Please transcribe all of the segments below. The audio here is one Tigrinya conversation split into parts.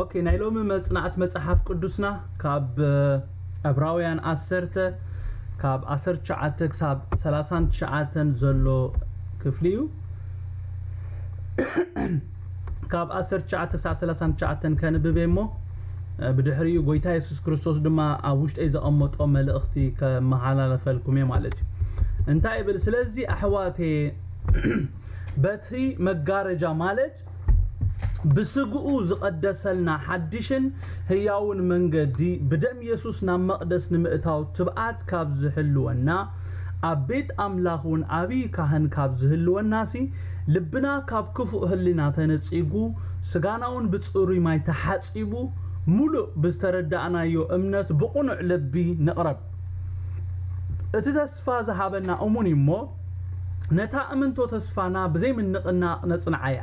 ኦኬ ናይ ሎሚ መጽናዕቲ መጽሓፍ ቅዱስና ካብ ዕብራውያን ዓሰርተ ካብ 19 ክሳብ 39 ዘሎ ክፍሊ እዩ ካብ ዓሰርተ ትሽዓተ ክሳዕ ሰላሳን ትሽዓተን ከንብብ እየ እሞ ብድሕሪኡ ጎይታ የሱስ ክርስቶስ ድማ ኣብ ውሽጠይ ዘቐመጦ መልእኽቲ ከመሓላለፈልኩም እየ ማለት እዩ እንታይ ይብል ስለዚ ኣሕዋቴ በቲ መጋረጃ ማለት ብስግኡ ዝቐደሰልና ሓድሽን ህያውን መንገዲ ብደም የሱስ ናብ መቕደስ ንምእታው ትብዓት ካብ ዝሕልወና ኣብ ቤት ኣምላኽ ውን ዓብዪ ካህን ካብ ዝህልወናሲ ልብና ካብ ክፉእ ህሊና ተነጺጉ ስጋናውን ብጽሩይ ማይ ተሓጺቡ ምሉእ ብዝተረዳእናዮ እምነት ብቕኑዕ ልቢ ንቕረብ እቲ ተስፋ ዝሃበና እሙን እዩ እሞ ነታ እምንቶ ተስፋና ብዘይምንቕናቕ ነጽንዓያ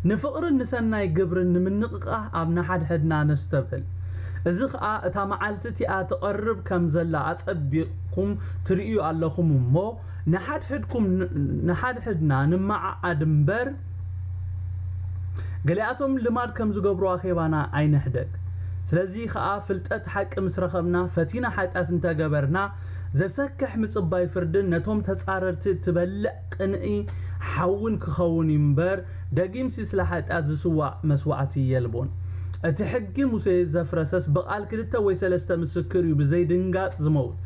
ንፍቕርን ንሰናይ ግብርን ንምንቕቓህ ኣብ ንሓድሕድና ነስተብህል እዚ ኸኣ እታ መዓልቲ እቲኣ ትቐርብ ከም ዘላ ኣጸቢቑ ኹም ትርእዩ ኣለኹም እሞ ንሓድሕድኩም ንሓድሕድና ንመዓዓድ እምበር ገሊኣቶም ልማድ ከም ዝገብሩ ኣኼባና ኣይንሕደግ ስለዚ ኸኣ ፍልጠት ሓቂ ምስ ረኸብና ፈቲና ሓጢኣት እንተ ገበርና ዘሰክሕ ምጽባይ ፍርድን ነቶም ተጻረርቲ እትበልዕ ቅንኢ ሓውን ክኸውን እዩ እምበር፣ ደጊምሲ ስለ ሓጢኣት ዝስዋእ መስዋዕቲ የልቦን። እቲ ሕጊ ሙሴ ዘፍረሰስ ብቓል ክልተ ወይ ሰለስተ ምስክር እዩ ብዘይ ድንጋጽ ዝመውት።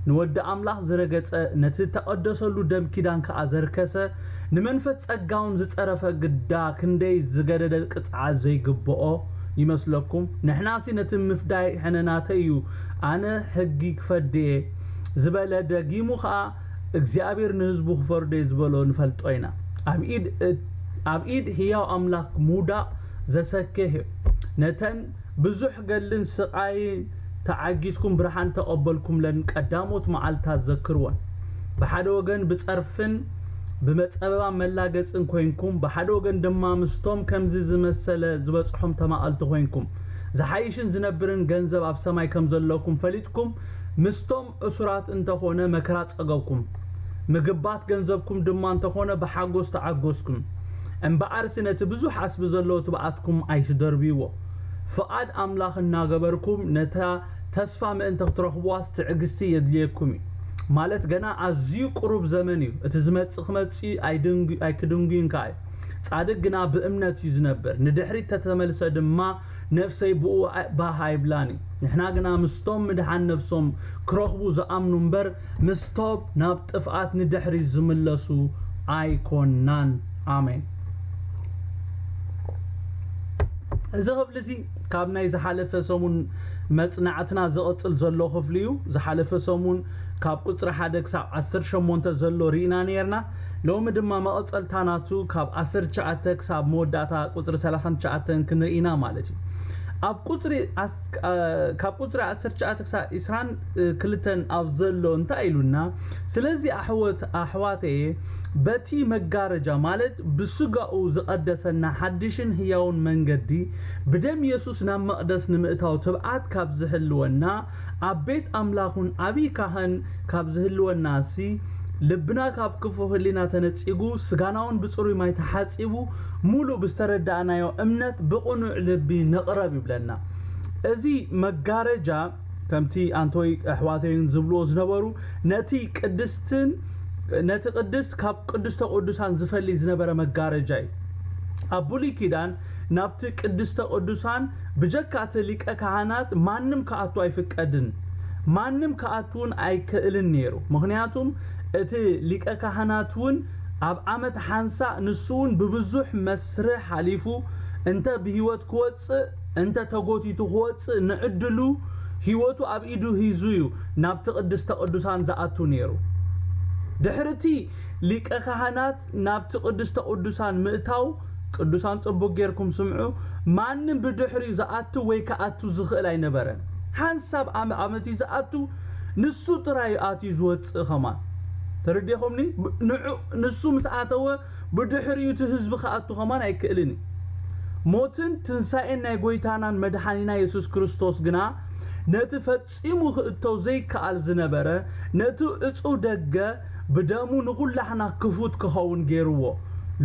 ንወዲ ኣምላኽ ዝረገጸ፣ ነቲ እተቐደሰሉ ደም ኪዳን ከኣ ዘርከሰ፣ ንመንፈስ ጸጋውን ዝጸረፈ ግዳ ክንደይ ዝገደደ ቅጽዓት ዘይግብኦ ይመስለኩም? ንሕናሲ ነቲ ምፍዳይ ሕነ ናተይ እዩ፣ ኣነ ሕጊ ክፈድድ'የ ዝበለ ደጊሙ ከኣ እግዚኣብሔር ንህዝቡ ክፈርዶ እየ ዝበሎ ንፈልጦ ኢና ኣብ ኢድ ኣብ ኢድ ህያው ኣምላክ ምውዳቅ ዘሰክሕ እዩ ነተን ብዙሕ ገድልን ስቃይ ተዓጊስኩም ብርሃን ተቀበልኩምለን ቀዳሞት መዓልታት ዘክርወን ብሓደ ወገን ብጸርፍን ብመጸበባ መላገጽን ኮይንኩም ብሓደ ወገን ድማ ምስቶም ከምዚ ዝመሰለ ዝበጽሖም ተማቀልቲ ኮይንኩም ዝሓይሽን ዝነብርን ገንዘብ ኣብ ሰማይ ከምዘለኩም ፈሊጥኩም ምስቶም እሱራት እንተ ኾነ መከራ ጸገብኩም፣ ምግባት ገንዘብኩም ድማ እንተ ኾነ ብሓጎስ ተዓጎስኩም። እምብኣርሲ ነቲ ብዙሕ ዓስቢ ዘለዎ ትብዓትኩም ኣይትደርብይዎ። ፍቓድ ኣምላኽ እናገበርኩም ነታ ተስፋ ምእንቲ ክትረኽብዋስ ትዕግስቲ የድልየኩም እዩ። ማለት ገና ኣዝዩ ቅሩብ ዘመን እዩ፣ እቲ ዝመጽእ ክመጽእ ኣይክድንጉይን ከኣ እዩ። ጻድቅ ግና ብእምነት እዩ ዝነብር፣ ንድሕሪት ተተመልሰ ድማ ነፍሰይ ብኡ ባህ ኣይብላን እዩ ንሕና ግና ምስቶም ምድሓን ነፍሶም ክረኽቡ ዝኣምኑ እምበር ምስቶም ናብ ጥፍኣት ንድሕሪት ዝምለሱ ኣይኮናን ኣሜን። እዚ ክፍሊ እዚ ካብ ናይ ዝሓለፈ ሰሙን መጽናዕትና ዝቕጽል ዘሎ ክፍሊ እዩ። ዝሓለፈ ሰሙን ካብ ቁጽሪ ሓደ ክሳብ ዓሰርተ ሸሞንተ ዘሎ ርኢና ነይርና። ሎሚ ድማ መቐጸልታ ናቱ ካብ ዓሰርተ ትሽዓተ ክሳብ መወዳእታ ቁጽሪ ሰላሳን ትሽዓተን ክንርኢ ኢና ማለት እዩ። ኣብ ቁጽሪ ካብ ቁጽሪ ዓሰርተ ትሽዓተ ክሳብ ዕስራን ክልተን ኣብ ዘሎ እንታይ ኢሉና ስለዚ ኣሕወት ኣሕዋተየ በቲ መጋረጃ ማለት ብስጋኡ ዝቐደሰና ሓድሽን ህያውን መንገዲ ብደም የሱስ ናብ መቕደስ ንምእታው ትብዓት ካብ ዝሕልወና ኣብ ቤት ኣምላኹን ዓብይ ካህን ካብ ዝህልወናሲ ልብና ካብ ክፉእ ህሊና ተነጺጉ ስጋናውን ብጽሩይ ማይ ተሓጺቡ ሙሉእ ብዝተረዳእናዮ እምነት ብቕኑዕ ልቢ ንቕረብ ይብለና እዚ መጋረጃ ከምቲ ኣንቶይ ኣሕዋተይን ዝብልዎ ዝነበሩ ነቲ ቅድስትን ነቲ ቅድስት ካብ ቅዱስተ ቅዱሳን ዝፈልይ ዝነበረ መጋረጃ እዩ ኣብ ብሉይ ኪዳን ናብቲ ቅድስተ ቅዱሳን ብጀካ እቲ ሊቀ ካህናት ማንም ክኣቱ ኣይፍቀድን ማንም ክኣቱውን ኣይክእልን ነይሩ ምኽንያቱም እቲ ሊቀ ካህናትውን ኣብ ዓመት ሓንሳእ ንሱውን ብብዙሕ መስርህ ሓሊፉ እንተ ብህይወት ክወጽእ እንተ ተጎቲቱ ክወጽእ ንዕድሉ ህይወቱ ኣብ ኢዱ ሂዙ እዩ ናብቲ ቅድስተ ቅዱሳን ዝኣቱ ነይሩ ድሕሪ እቲ ሊቀ ካህናት ናብቲ ቅድስተ ቅዱሳን ምእታው ቅዱሳን ጽቡቅ ጌርኩም ስምዑ ማንም ብድሕሪኡ ዝኣቱ ወይ ክኣቱ ዝኽእል ኣይነበረን ሓንሳብ ኣም ኣመት እዩ ዝኣቱ ንሱ ጥራይ እዩ ኣትዩ ዝወጽእ ከማን ተረዲኹምኒ ንዑ ንሱ ምስ ኣተወ ብድሕሪኡ እቲ ህዝቢ ክኣቱ ከማን ኣይክእልን እዩ ሞትን ትንሳኤን ናይ ጎይታናን መድሓኒና የሱስ ክርስቶስ ግና ነቲ ፈጺሙ ክእቶ ዘይከኣል ዝነበረ ነቲ ዕጹው ደገ ብደሙ ንኩላህና ክፉት ክከውን ገርዎ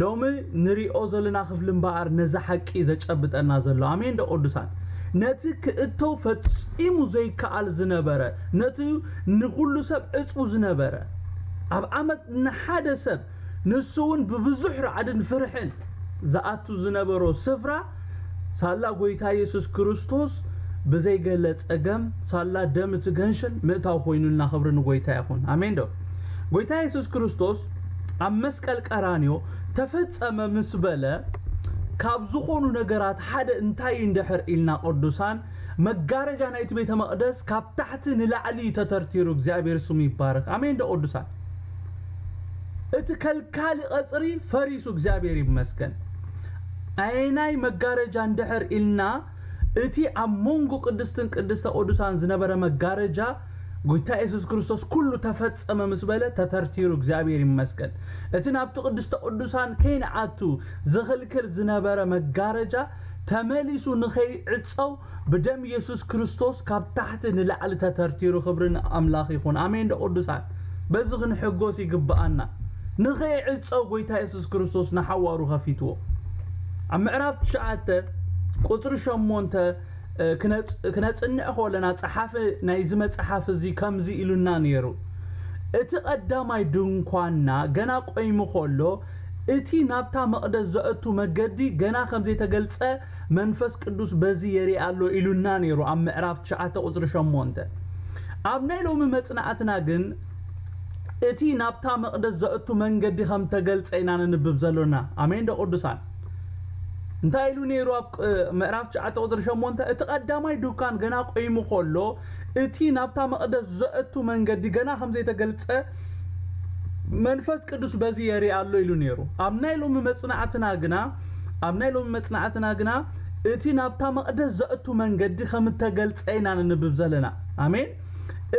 ሎሚ ንሪኦ ዘሎና ክፍሊ እምበኣር ነዚ ሓቂ እዩ ዘጨብጠና ዘሎ ኣሜን ዶ ቅዱሳን ነቲ ክእቶ ፈጺሙ ዘይከኣል ዝነበረ ነቲ ንኩሉ ሰብ ዕጽው ዝነበረ ኣብ ዓመት ንሓደ ሰብ ንሱ ውን ብብዙሕ ራዕድን ፍርሕን ዝኣቱ ዝነበሮ ስፍራ ሳላ ጎይታ የሱስ ክርስቶስ ብዘይ ገለ ጸገም ሳላ ደም እቲ ገንሽል ምእታው ኮይኑልና ክብሪ ንጎይታ ይኹን ኣሜን ዶ ጎይታ የሱስ ክርስቶስ ኣብ መስቀል ቀራንዮ ተፈጸመ ምስ በለ ካብ ዝኾኑ ነገራት ሓደ እንታይ እዩ እንድሕር ኢልና ቅዱሳን መጋረጃ ናይቲ ቤተ መቅደስ ካብ ታሕቲ ንላዕሊ ተተርቲሩ እግዚኣብሔር ስሙ ይባረክ ኣሜን ዶ ቅዱሳን እቲ ከልካሊ ቐጽሪ ፈሪሱ እግዚኣብሔር ይመስገን። ኣየናይ መጋረጃ እንድሕር ኢልና እቲ ኣብ መንጎ ቅድስትን ቅድስተ ቅዱሳን ዝነበረ መጋረጃ ጎይታ ኢየሱስ ክርስቶስ ኩሉ ተፈጸመ ምስ በለ ተተርቲሩ እግዚኣብሔር ይመስገን። እቲ ናብቲ ቅድስተ ቅዱሳን ከይንኣቱ ዝኽልክል ዝነበረ መጋረጃ ተመሊሱ ንኸይዕጸው ብደም የሱስ ክርስቶስ ካብ ታሕቲ ንላዕሊ ተተርቲሩ ክብሪ ን ኣምላኽ ይኹን ኣሜን ዶ ቅዱሳን በዚ ክንሕጎስ ይግብኣና ንኸይዕጸው ጎይታ የሱስ ክርስቶስ ንሓዋሩ ከፊትዎ ኣብ ምዕራፍ ትሽዓተ ቁጽሪ ሸሞንተ ክነጽንዕ ከለና ጸሓፊ ናይዚ መጽሓፍ እዚ ከምዚ ኢሉና ነይሩ እቲ ቀዳማይ ድንኳንና ገና ቆይሙ ከሎ እቲ ናብታ መቕደስ ዘእቱ መገዲ ገና ከም ዘይተገልጸ መንፈስ ቅዱስ በዚ የርኢ ኣሎ ኢሉና ነይሩ ኣብ ምዕራፍ ትሽዓተ ቁጽሪ ሸሞንተ። ኣብ ናይ ሎሚ መጽናዕትና ግን እቲ ናብታ መቅደስ ዘእቱ መንገዲ ከም ተገልጸ ኢና ነንብብ ዘሎና። ኣሜን ዶ ቅዱሳን። እንታይ ኢሉ ነይሩ ኣብ ምዕራፍ ትሽዓተ ቁጽሪ ሸሞንተ እቲ ቀዳማይ ድኳን ገና ቆይሙ ከሎ እቲ ናብታ መቅደስ ዘእቱ መንገዲ ገና ከም ዘይተገልጸ መንፈስ ቅዱስ በዚ የርኢ ኣሎ ኢሉ ነይሩ። ኣብ ናይ ሎሚ መጽናዕትና ግና ኣብ ናይ ሎሚ መጽናዕትና ግና እቲ ናብታ መቕደስ ዘእቱ መንገዲ ከም እተገልጸ ኢና ነንብብ ዘለና። ኣሜን።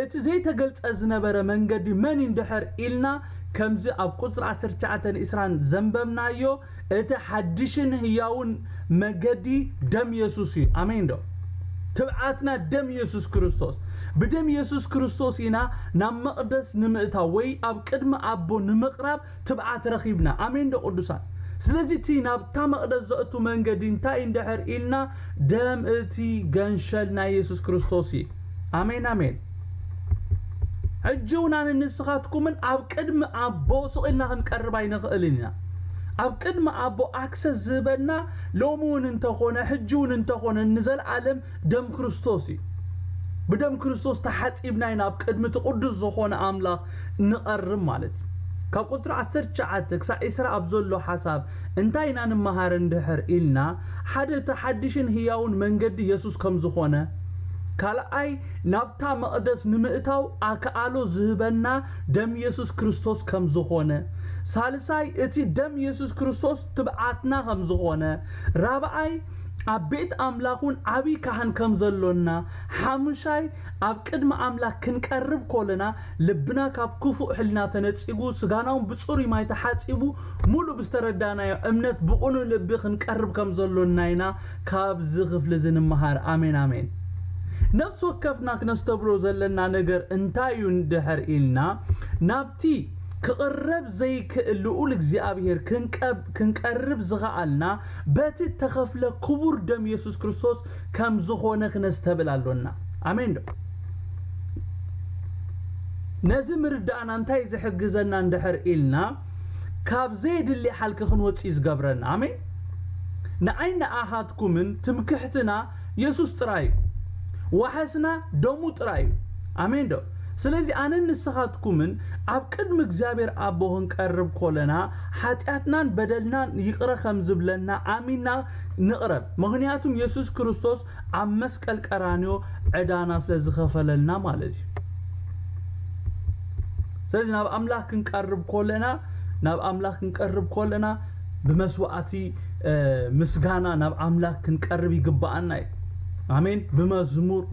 እቲ ዘይተገልጸ ዝነበረ መንገዲ መን እዩ እንድሕር ኢልና ከምዚ ኣብ ቁጽሪ ዓሰርተ ትሽዓተን ኢስራን ዘንበብናዮ እቲ ሓድሽን ህያውን መገዲ ደም የሱስ እዩ ኣሜን ዶ ትብዓትና ደም የሱስ ክርስቶስ ብደም የሱስ ክርስቶስ ኢና ናብ መቅደስ ንምእታው ወይ ኣብ ቅድሚ ኣቦ ንምቅራብ ትብዓት ረኺብና ኣሜን ዶ ቅዱሳን ስለዚ እቲ ናብታ መቅደስ ዘእቱ መንገዲ እንታይ እዩ እንድሕር ኢልና ደም እቲ ገንሸል ናይ የሱስ ክርስቶስ እዩ ኣሜን ኣሜን ሕጂውን ኣነን ንስኻትኩምን ኣብ ቅድሚ ኣቦ ስቕ ኢልና ክንቀርብ ኣይንኽእልን ኢና። ኣብ ቅድሚ ኣቦ ኣክሰስ ዝህበና ሎሚውን እንተኾነ ሕጂውን እንተኾነ ንዘልኣለም ደም ክርስቶስ እዩ። ብደም ክርስቶስ ተሓጺብና ኢና ኣብ ቅድሚ እቲ ቅዱስ ዝኾነ ኣምላኽ ንቐርብ ማለት እዩ። ካብ ቁጽሪ ዓሰርተ ትሽዓተ ክሳዕ ዕስራ ኣብ ዘሎ ሓሳብ እንታይ ኢና ንመሃር እንድሕር ኢልና ሓደ እቲ ሓድሽን ህያውን መንገዲ የሱስ ከም ዝኾነ ካልኣይ ናብታ መቕደስ ንምእታው ኣክኣሎ ዝህበና ደም የሱስ ክርስቶስ ከም ዝኾነ፣ ሳልሳይ እቲ ደም የሱስ ክርስቶስ ትብዓትና ከም ዝኾነ፣ ራብዓይ ኣብ ቤት ኣምላኽ ውን ዓቢ ካህን ከም ዘሎና፣ ሓሙሻይ ኣብ ቅድሚ ኣምላኽ ክንቀርብ ኮለና ልብና ካብ ክፉእ ሕልና ተነጺጉ ስጋና ውን ብጽሩይ ማይ ተሓጺቡ ሙሉእ ብዝተረዳእናዮ እምነት ብቅኑእ ልቢ ክንቀርብ ከም ዘሎና ኢና ካብዚ ክፍሊ እዚ ንመሃር ኣሜን ኣሜን። ነፍሲ ወከፍና ክነስተብህሎ ዘለና ነገር እንታይ እዩ እንድሕር ኢልና ናብቲ ክቕረብ ዘይክእል ልኡል እግዚኣብሄር ክንቀርብ ዝኸኣልና በቲ እተኸፍለ ክቡር ደም የሱስ ክርስቶስ ከም ዝኾነ ክነስተብል ኣሎና። ኣሜን ዶ? ነዚ ምርዳእና እንታይ እዩ ዝሕግዘና እንድሕር ኢልና ካብ ዘየድሊ ሓልኪ ክንወጽእ እዩ ዝገብረና ኣሜን ንዓይን ንኣሃትኩምን ትምክሕትና የሱስ ጥራይ እዩ ዋሕስና ደሙ ጥራይ እዩ ኣሜን ዶ ስለዚ ኣነን ንስኻትኩምን ኣብ ቅድሚ እግዚኣብሔር ኣቦ ክንቀርብ ኮለና ሓጢኣትናን በደልናን ይቕረ ከም ዝብለና ኣሚንና ንቕረብ ምኽንያቱም የሱስ ክርስቶስ ኣብ መስቀል ቀራንዮ ዕዳና ስለ ዝኸፈለልና ማለት እዩ ስለዚ ናብ ኣምላኽ ክንቀርብ ኮለና ናብ ኣምላኽ ክንቀርብ ኮለና ብመስዋዕቲ ምስጋና ናብ ኣምላኽ ክንቀርብ ይግባኣና እዩ ኣሜን ብመዝሙር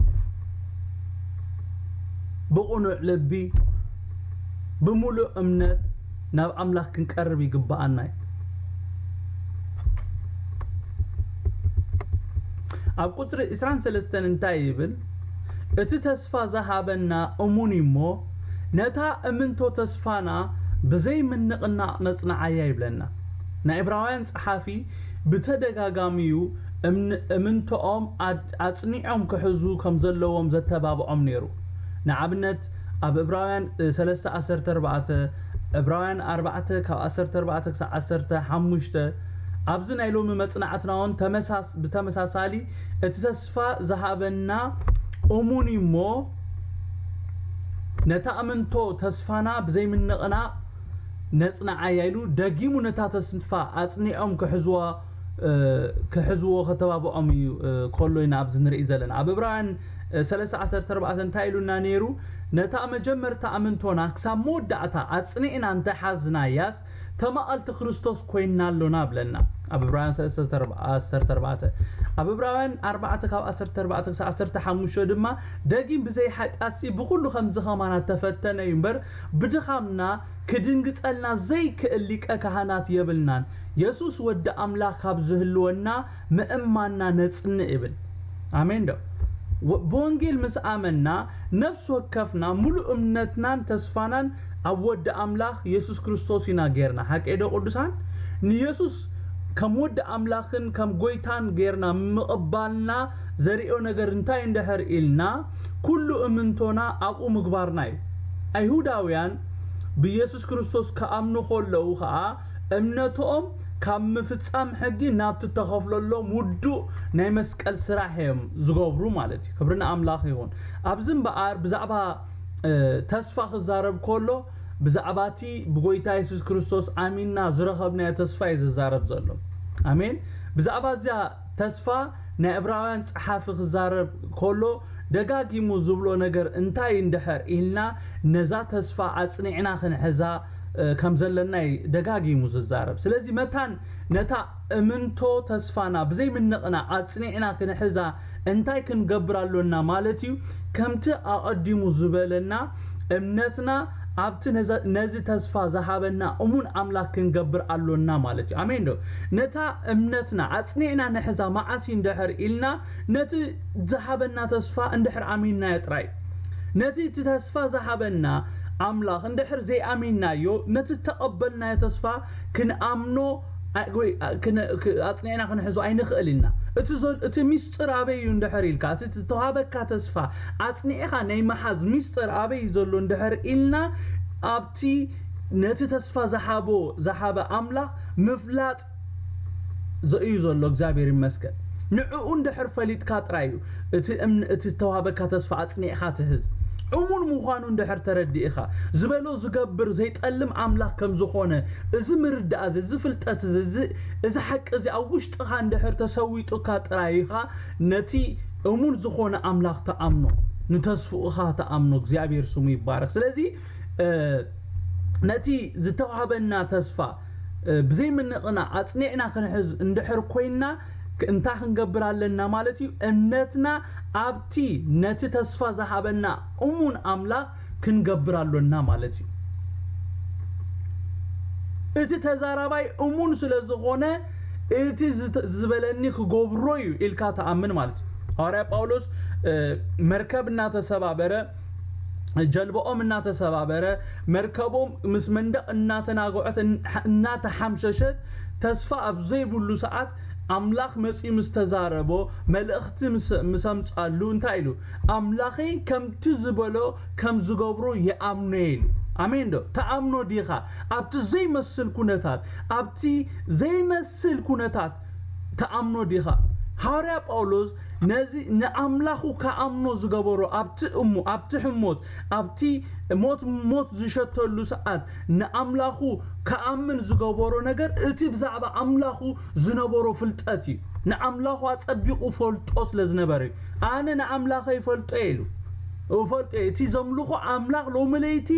ብቕኑዕ ልቢ ብምሉእ እምነት ናብ ኣምላኽ ክንቀርብ ይግብኣና እዩ። ኣብ ቍጽሪ ዕስራን ሰለስተን እንታይ ይብል? እቲ ተስፋ ዝሃበና እሙን እዩ እሞ፣ ነታ እምንቶ ተስፋና ብዘይ ምንቕናቕ ነጽንዓያ ይብለና። ናይ እብራውያን ጸሓፊ ብተደጋጋሚ እዩ እምንቶኦም ኣጽኒዖም ክሕዙ ከም ዘለዎም ዘተባብዖም ነይሩ። ንኣብነት፣ ኣብ እብራውያን ሰለስተ ዓሰርተ ኣርባዕተ፣ ዕብራውያን ኣርባዕተ ካብ ዓሰርተ ኣርባዕተ ክሳዕ ዓሰርተ ሓሙሽተ፣ ኣብዚ ናይ ሎሚ መጽናዕትናውን ተመሳስ ብተመሳሳሊ እቲ ተስፋ ዝሃበና እሙን እዩ እሞ ነታ እምንቶ ተስፋና ብዘይምንቕናቕ ነጽንዓያ ኢሉ ደጊሙ ነታ ተስፋ ኣጽኒዖም ክሕዝዋ ክሕዝዎ ከተባብዖም እዩ ከሎ ኢና ኣብዚ ንርኢ ዘለና ኣብ እብራውያን ሰለስተ ዓሰርተ ኣርባዕተ እንታይ ኢሉና ነይሩ? ነታ መጀመርታ ኣምንቶና ክሳብ መወዳእታ ኣጽኒዕና እንተ ሓዝናያስ፣ ተማቐልቲ ክርስቶስ ኰይንና ኣሎና በለና። ኣብ ዕብራውያን ሰለስተ ዓሰርተ ኣርባዕተ። ኣብ ዕብራውያን ኣርባዕተ ካብ ዓሰርተ ኣርባዕተ ክሳብ ዓሰርተ ሓሙሽተ ድማ፣ ደጊም ብዘይ ሓጢኣትሲ ብዅሉ ከምዚ ኸማና እተፈተነ እዩ እምበር፣ ብድኻምና ኪድንግጸልና ዘይክእል ሊቀ ካህናት የብልናን። የሱስ ወዲ ኣምላኽ ካብ ዚህልወና፣ ምእማንና ነጽንዕ ይብል። ኣሜን ዶ? ብወንጌል ምስ ኣመንና፣ ነፍሲ ወከፍና ምሉእ እምነትናን ተስፋናን ኣብ ወዲ ኣምላኽ የሱስ ክርስቶስ ኢና ጌርና። ሓቀይ ዶ ቅዱሳን? ንየሱስ ከም ወዲ ኣምላኽን ከም ጎይታን ጌርና ምቕባልና ዘርእዮ ነገር እንታይ እንድሕር ኢልና፣ ኩሉ እምንቶና ኣብኡ ምግባርና እዩ። ኣይሁዳውያን ብየሱስ ክርስቶስ ክኣምኑ ከለዉ ከኣ፣ እምነትኦም ካብ ምፍጻም ሕጊ ናብቲ እተኸፍለሎም ውዱእ ናይ መስቀል ስራሕ እዮም ዝገብሩ ማለት እዩ። ክብሪ ንኣምላኽ ይኹን። ኣብዚ እምበኣር ብዛዕባ ተስፋ ክዛረብ ከሎ ብዛዕባ እቲ ብጎይታ የሱስ ክርስቶስ ኣሚንና ዝረኸብናዮ ተስፋ እዩ ዝዛረብ ዘሎ። ኣሜን። ብዛዕባ እዚኣ ተስፋ ናይ እብራውያን ጸሓፊ ክዛረብ ከሎ ደጋጊሙ ዝብሎ ነገር እንታይ እንድሕር ኢልና ነዛ ተስፋ ኣጽኒዕና ክንሕዛ ከም ዘለና እዩ ደጋጊሙ ዝዛረብ ስለዚ መታን ነታ እምንቶ ተስፋና ብዘይ ምንቕናቕ ኣጽኒዕና ክንሕዛ እንታይ ክንገብር ኣሎና ማለት እዩ ከምቲ ኣቐዲሙ ዝበለና እምነትና ኣብቲ ነዚ ተስፋ ዝሃበና እሙን ኣምላክ ክንገብር ኣሎና ማለት እዩ። ኣሜን ዶ? ነታ እምነትና ኣጽኒዕና ንሕዛ፣ መዓስ እዩ እንድሕር ኢልና ነቲ ዝሃበና ተስፋ እንድሕር ኣሚንናዮ ጥራይ። ነቲ እቲ ተስፋ ዝሃበና ኣምላክ እንድሕር ዘይኣሚንናዮ ነቲ ዝተቀበልናዮ ተስፋ ክንኣምኖ ወይ ኣጽኒዕና ክንሕዞ ኣይንክእል ኢና። እቲ እቲ ሚስጥር ኣበይ እዩ እንድሕር ኢልካ እቲ ዝተዋሃበካ ተስፋ ኣጽኒዕኻ ናይ ምሓዝ ሚስጥር ኣበይ እዩ ዘሎ እንድሕር ኢልና ኣብቲ ነቲ ተስፋ ዝሓቦ ዝሓበ ኣምላኽ ምፍላጥ እዩ ዘሎ እግዚኣብሔር ይመስገን ንዕኡ እንድሕር ፈሊጥካ ጥራይ እዩ እቲ እቲ ዝተዋሃበካ ተስፋ ኣጽኒዕኻ ትህዝ እሙን ምዃኑ እንድሕር ተረዲእኻ ዝበሎ ዝገብር ዘይጠልም ኣምላኽ ከም ዝኾነ እዚ ምርዳእ እዚ ፍልጠት እዚ እዚ ሓቂ እዚ ኣብ ውሽጥኻ እንድሕር ተሰዊጡካ ጥራይ ኢኻ ነቲ እሙን ዝኾነ ኣምላኽ ትኣምኖ፣ ንተስፍኡኻ ትኣምኖ፣ እግዚኣብሄር ስሙ ይባረኽ። ስለዚ ነቲ ዝተዋህበና ተስፋ ብዘይ ምንቕናቕ ኣጽኒዕና ክንሕዝ እንድሕር ኮይንና እንታይ ክንገብር ኣለና ማለት እዩ? እምነትና ኣብቲ ነቲ ተስፋ ዝሃበና እሙን ኣምላኽ ክንገብር ኣሎና ማለት እዩ። እቲ ተዛራባይ እሙን ስለ ዝዀነ እቲ ዝበለኒ ክገብሮ እዩ ኢልካ ትኣምን ማለት እዩ። ሃዋርያ ጳውሎስ መርከብ እናተሰባበረ ጀልባኦም እናተሰባበረ መርከቦም ምስ መንደቕ እናተናግዖት እናተሓምሸሸት ተስፋ ኣብ ዘይብሉ ሰዓት ኣምላኽ መጺኡ ምስ ተዛረቦ መልእኽቲ ምስ ኣምጻሉ እንታይ ኢሉ ኣምላኺ ከምቲ ዝበሎ ከም ዝገብሩ ይኣምኖ'የ ኢሉ። ኣሜን ዶ ትኣምኖ ዲኻ? ኣብቲ ዘይመስል ኩነታት፣ ኣብቲ ዘይመስል ኩነታት ትኣምኖ ዲኻ? ሃዋርያ ጳውሎስ ነዚ ንኣምላኹ ክኣምኖ ዝገበሮ ኣብቲ እሞ ኣብቲ ሕሞት ኣብቲ ሞት ሞት ዝሸተሉ ሰዓት ንኣምላኹ ክኣምን ዝገበሮ ነገር እቲ ብዛዕባ ኣምላኹ ዝነበሮ ፍልጠት እዩ። ንኣምላኹ ኣጸቢቑ እፈልጦ ስለ ዝነበረ እዩ። ኣነ ንኣምላኸይ እፈልጦ'የ ኢሉ። እፈልጦ'የ፣ እቲ ዘምልኾ ኣምላኽ ሎሚ ለይቲ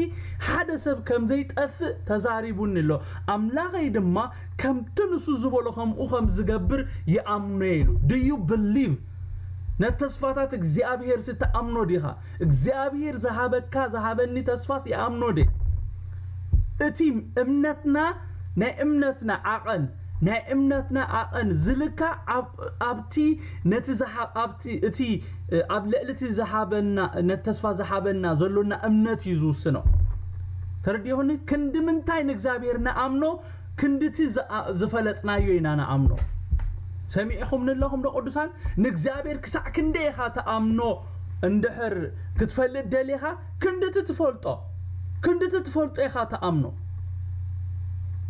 ሓደ ሰብ ከም ዘይጠፍእ ተዛሪቡኒ ኣሎ፣ ኣምላኸይ ድማ ከምቲ ንሱ ዝበሎ ከምኡ ከም ዝገብር ይኣምኖ'የ ኢሉ። Do you believe? ነቲ ተስፋታት እግዚኣብሄርሲ ትኣምኖ ዲኻ? እግዚኣብሄር ዝሃበካ ዝሃበኒ ተስፋስ ይኣምኖ ድየ? እቲ እምነትና ናይ እምነትና ዓቐን፣ ናይ እምነትና ኣቐን ዝልካዕ ኣብ ኣብቲ ነቲ ዝሓ ኣብቲ እቲ ኣብ ልዕሊ እቲ ዝሃበና ነቲ ተስፋ ዝሃበና ዘሎና እምነት እዩ ዝውስኖ። ተረዲኡኒ? ክንዲ ምንታይ ንእግዚኣብሔር ንኣምኖ ክንዲ እቲ ዝፈለጥናዮ ኢና ንኣምኖ። ሰሚዕኹምኒ ኣለኹም ዶ ቅዱሳን? ንእግዚኣብሔር ክሳዕ ክንደይ ኢኻ ትኣምኖ እንድሕር ክትፈልጥ ደሊኻ ክንድቲ ትፈልጦ ክንድቲ ትፈልጦ ኢኻ ትኣምኖ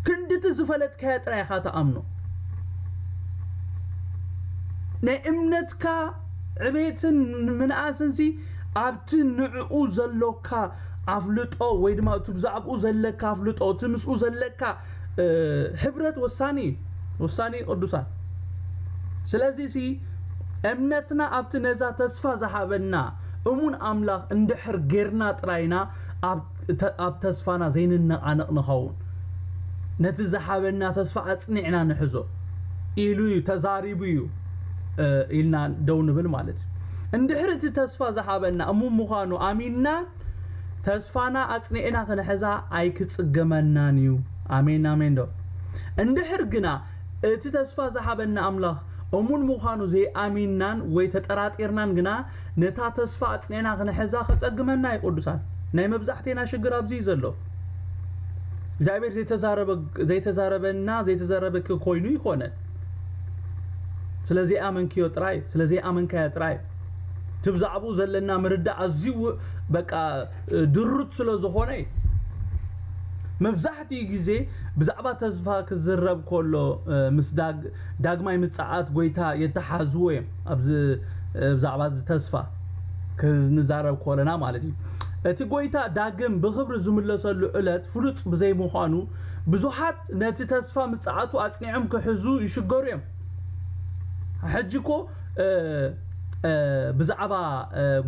ክንድቲ ዝፈለጥካዮ ጥራይ ኢኻ ትኣምኖ ናይ እምነትካ ዕቤትን ምንኣስንሲ ኣብቲ ንዕኡ ዘሎካ ኣፍልጦ ወይ ድማ እቲ ብዛዕብኡ ዘለካ ኣፍልጦ እቲ ምስኡ ዘለካ ህብረት ወሳኒ እዩ ውሳኔ ቅዱሳን ስለዚ ሲ እምነትና ኣብቲ ነዛ ተስፋ ዝሃበና እሙን ኣምላኽ እንድሕር ጌርና ጥራይና ኣብ ተስፋና ዘይንነቓነቕ ንኸውን ነቲ ዝሃበና ተስፋ ኣጽኒዕና ንሕዞ ኢሉ እዩ ተዛሪቡ እዩ ኢልና ደው ንብል ማለት እዩ እንድሕር እቲ ተስፋ ዝሃበና እሙን ምዃኑ ኣሚንና ተስፋና ኣጽኒዕና ክንሕዛ ኣይክጽገመናን እዩ። ኣሜን ኣሜን ዶ እንድሕር ግና እቲ ተስፋ ዝሃበና ኣምላኽ እሙን ምዃኑ ዘይኣሚንናን ወይ ተጠራጢርናን ግና ነታ ተስፋ ኣጽኒዕና ክንሕዛ ከጸግመና እዩ ቅዱሳን ናይ መብዛሕቴና ሽግር ኣብዚ እዩ ዘሎ እግዚኣብሔር ዘይተዛረበ ዘይተዛረበና ዘይተዘረበኪ ኮይኑ ይኮነን ስለ ዘይኣመንክዮ ጥራይ ስለ ዘይኣመንካዮ ጥራይ እቲ ብዛዕብኡ ዘለና ምርዳእ ኣዝዩ በቃ ድሩት ስለ ዝኾነ እዩ መብዛሕትኡ ግዜ ብዛዕባ ተስፋ ክዝረብ ከሎ ምስ ዳግማይ ምጽኣት ጎይታ የተሓዝዎ እዮም ኣብዚ ብዛዕባ እዚ ተስፋ ክንዛረብ ከለና ማለት እዩ እቲ ጎይታ ዳግም ብኽብሪ ዝምለሰሉ ዕለት ፍሉጥ ብዘይምዃኑ ብዙሓት ነቲ ተስፋ ምጽኣቱ ኣጽኒዖም ክሕዙ ይሽገሩ እዮም ሕጂ እኮ እእ ብዛዕባ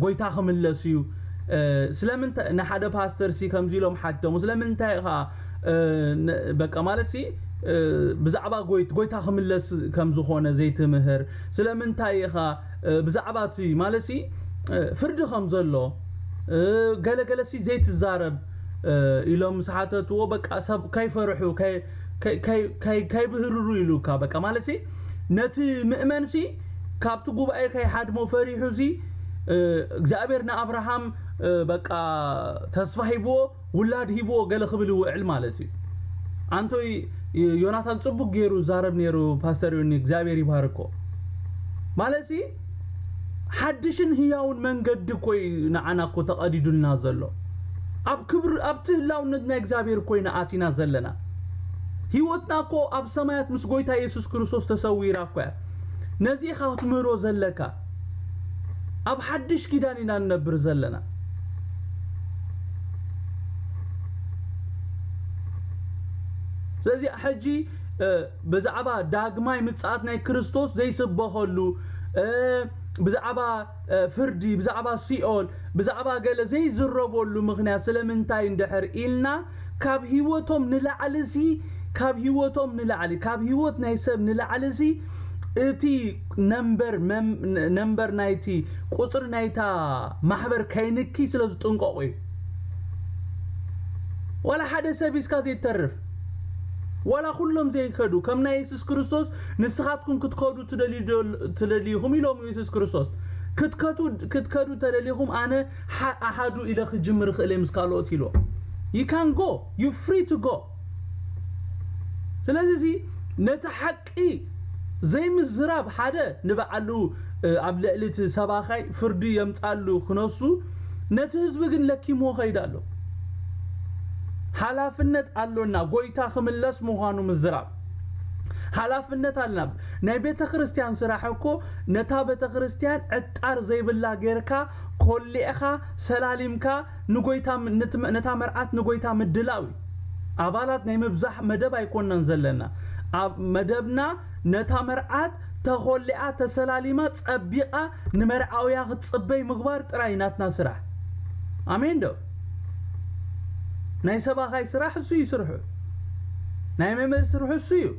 ጎይታ ክምለስ እዩ ስለምንታይ ንሓደ ፓስተር ሲ ከምዚ ኢሎም ሓቲቶሞ ስለምንታይ ኢኻ በቃ ማለት ሲ ብዛዕባ ጎይት ጎይታ ክምለስ ከም ዝኾነ ዘይትምህር ስለምንታይ ኢኻ ብዛዕባ እቲ ማለት ሲ ፍርዲ ከም ዘሎ ገለ ገለ ሲ ዘይትዛረብ ኢሎም ምስ ሓተትዎ በቃ ሰብ ከይፈርሑ ከይብህርሩ ኢሉካ በቃ ማለትሲ ነቲ ምእመንሲ ካብቲ ጉባኤ ከይሓድሞ ፈሪሑሲ እግዚኣብሔር ንኣብርሃም በቃ ተስፋ ሂብዎ ውላድ ሂብዎ ገለ ክብል ይውዕል ማለት እዩ ኣንቶይ ዮናታን ጽቡቅ ገይሩ ዛረብ ነይሩ ፓስተር ዮኒ እግዚኣብሔር ይባርኮ ማለትሲ ሓድሽን ህያውን መንገዲ እኮ እዩ ንዓና እኮ ተቐዲዱልና ዘሎ። ኣብ ክብሪ ኣብቲ ህላውነት ናይ እግዚኣብሔር እኮ ኢና ኣቲና ዘለና። ህይወትና እኮ ኣብ ሰማያት ምስ ጎይታ የሱስ ክርስቶስ ተሰዊራ እኮ እያ። ነዚ ኢኻ ክትምህሮ ዘለካ። ኣብ ሓድሽ ኪዳን ኢና ንነብር ዘለና። ስለዚ ሕጂ ብዛዕባ ዳግማይ ምጽኣት ናይ ክርስቶስ ዘይስበኸሉ፣ ብዛዕባ ፍርዲ፣ ብዛዕባ ሲኦል፣ ብዛዕባ ገለ ዘይዝረበሉ ምኽንያት ስለምንታይ እንድሕር ኢልና፣ ካብ ህይወቶም ንላዕሊሲ፣ ካብ ህይወቶም ንላዕሊ፣ ካብ ህይወት ናይ ሰብ ንላዕሊሲ እቲ ነምበር፣ ነምበር ናይቲ፣ ቁጽሪ ናይታ ማሕበር ከይንኪ ስለዝጥንቀቑ እዩ። ዋላ ሓደ ሰብ ሂዝካ ዘይትተርፍ። ዋላ ኩሎም ዘይከዱ ከም ናይ የሱስ ክርስቶስ ንስኻትኩም ክትከዱ ትደልዩ ኢኹም ኢሎምዎ የሱስ ክርስቶስ ክትከቱ ክትከዱ ተደሊኹም ኣነ ኣሃዱ ኢለ ክጅምር ይኽእልየ ምስ ካልኦት ኢልዎ you can go you free to go ስለዚሲ ነቲ ሓቂ ሓቂ ዘይምዝራብ ሓደ ንባዕሉ ኣብ ልዕሊ እቲ ሰባካይ ፍርዲ የምጻሉ ክነሱ ነቲ ህዝቢ ግን ለኪምዎ ከይድ ኣሎ ሓላፍነት ኣሎና ጎይታ ክምለስ ምኳኑ ምዝራብ ሓላፍነት ኣለና ናይ ቤተክርስትያን ስራሕ እኮ ነታ ቤተክርስትያን ዕጣር ዘይብላ ጌርካ ኮሊዕካ ሰላሊምካ ንጎይታ ንትም ነታ መርዓት ንጎይታ ምድላው እዩ ኣባላት ናይ ምብዛሕ መደብ ኣይኮናን ዘለና ኣብ መደብና ነታ መርዓት ተኾሊዓ ተሰላሊማ ጸቢቃ ንመርዓውያ ክትጽበይ ምግባር ጥራይ ናትና ስራሕ ኣሜን ዶ ናይ ሰባኻይ ስራሕ እሱ እዩ ስርሑ ናይ መምህር ስርሑ እሱ እዩ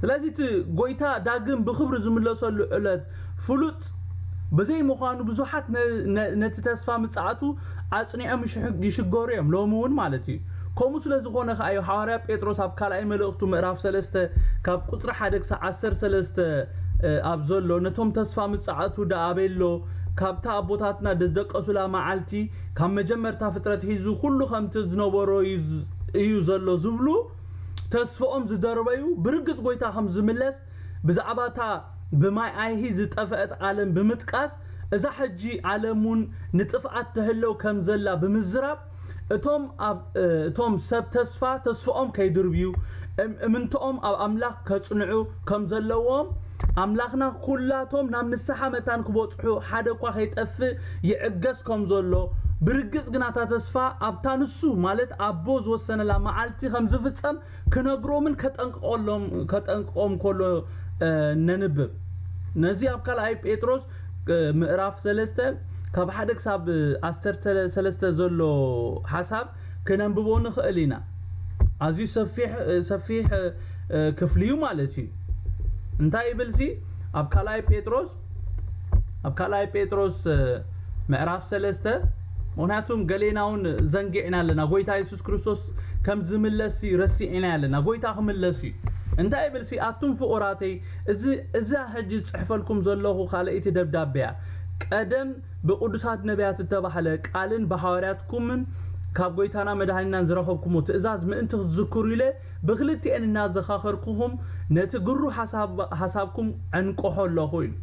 ስለዚ እቲ ጐይታ ዳግም ብኽብሪ ዝምለሰሉ ዕለት ፍሉጥ ብዘይ ምዃኑ ብዙሓት ነቲ ተስፋ ምጽኣቱ ኣጽኒዖም ይሽገሩ እዮም ሎሚ እውን ማለት እዩ ከምኡ ስለ ዝኾነ ከኣ እዩ ሓዋርያ ጴጥሮስ ኣብ ካልኣይ መልእኽቱ ምዕራፍ ሰለስተ ካብ ቁጽሪ ሓደ ክሳዕ ዓሰርተ ሰለስተ ኣብ ዘሎ ነቶም ተስፋ ምጽኣቱ ደኣ ኣበሎ ካብታ ኣቦታትና ድዝደቀሱላ መዓልቲ ካብ መጀመርታ ፍጥረት ሒዙ ኩሉ ከምቲ ዝነበሮ እዩ ዘሎ ዝብሉ ተስፍኦም ዝደርበዩ ብርግጽ ጎይታ ከም ዝምለስ ብዛዕባ እታ ብማይ ኣይሂ ዝጠፈእት ዓለም ብምጥቃስ እዛ ሕጂ ዓለምውን ንጥፍኣት ትሕለው ከም ዘላ ብምዝራብ እቶም ኣብ እቶም ሰብ ተስፋ ተስፍኦም ከይድርብዩ እም እምንትኦም ኣብ ኣምላኽ ከጽንዑ ከም ዘለዎም ኣምላኽና ኩላቶም ናብ ንስሓ መታን ክበጽሑ ሓደ እኳ ከይጠፍእ ይዕገስ ከም ዘሎ ብርግጽ ግና እታ ተስፋ ኣብታ ንሱ ማለት ኣቦ ዝወሰነላ መዓልቲ ከም ዝፍጸም ክነግሮምን ከጠንቅቐሎም ከጠንቅቆም ከሎ ነንብብ ነዚ ኣብ ካልኣይ ጴጥሮስ ምዕራፍ ሰለስተ ካብ ሓደ ክሳብ ዓሰርተ ሰለስተ ዘሎ ሓሳብ ክነንብቦ ንኽእል ኢና ኣዝዩ ሰፊሕ ሰፊሕ ክፍሊ እዩ ማለት እዩ እንታይ ይብል ሲ ኣብ ካልኣይ ጴጥሮስ ኣብ ካልኣይ ጴጥሮስ ምዕራፍ ሰለስተ ምክንያቱም ገሌና እውን ዘንጊዕና ኣለና ጎይታ የሱስ ክርስቶስ ከም ዝምለስ ረሲዕና ኣለና ጎይታ ክምለስ እዩ እንታይ ይብል ሲ ኣቱም ፍቑራተይ እዚ እዛ ሕጂ ዝጽሕፈልኩም ዘለኹ ካልኣይቲ ደብዳቤ እያ ቀደም ብቅዱሳት ነቢያት እተባህለ ቃልን ብሓዋርያትኩምን ካብ ጎይታና መድኃኒናን ዝረኸብኩሞ ትእዛዝ ምእንቲ ክትዝክሩ ኢለ ብክልቲኤን እናዘኻኸርኩኹም ነቲ ግሩ ሓሳብ ሓሳብኩም ዕንቅሖ ኣለኹ ኢሉ።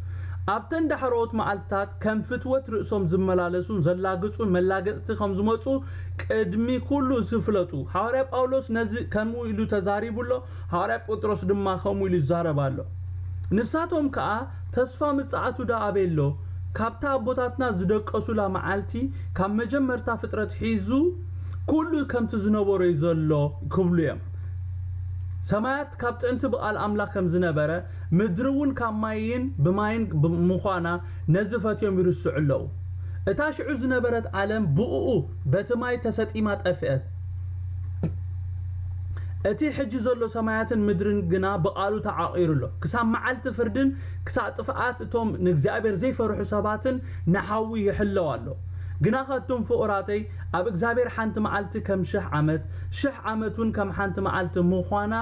ኣብተን ዳሕረዎት መዓልትታት ከም ፍትወት ርእሶም ዝመላለሱን ዘላግጹን መላገጽቲ ከም ዝመጹ ቅድሚ ኩሉ እሱ ፍለጡ። ሓዋርያ ጳውሎስ ነዚ ከምኡ ኢሉ ተዛሪቡ ኣሎ፣ ሓዋርያ ጴጥሮስ ድማ ከምኡ ኢሉ ይዛረብ ኣሎ። ንሳቶም ከኣ ተስፋ ምጽኣቱ ደኣ ኣበይ ኣሎ? ካብታ ኣቦታትና ዝደቀሱላ መዓልቲ ካብ መጀመርታ ፍጥረት ሒዙ፣ ኩሉ ከምቲ ዝነበሮ እዩ ዘሎ ክብሉ እዮም። ሰማያት ካብ ጥንቲ ብቃል ኣምላኽ ከም ዝነበረ፣ ምድሪ እውን ካብ ማይን ብማይን ምዃና ነዚ ፈትዮም ይርስዑ ኣለዉ። እታ ሽዑ ዝነበረት ዓለም ብእኡ በቲ ማይ ተሰጢማ ጠፍእት። እቲ ሕጂ ዘሎ ሰማያትን ምድርን ግና ብቃሉ ተዓቚሩ ኣሎ። ክሳብ መዓልቲ ፍርድን ክሳዕ ጥፍኣት እቶም ንእግዚኣብሔር ዘይፈርሑ ሰባትን ንሓዊ ይሕለው ኣሎ። ግናኸ እቱም ፍቑራተይ ኣብ እግዚኣብሔር ሓንቲ መዓልቲ ከም ሽሕ ዓመት፣ ሽሕ ዓመት ውን ከም ሓንቲ መዓልቲ ምዃና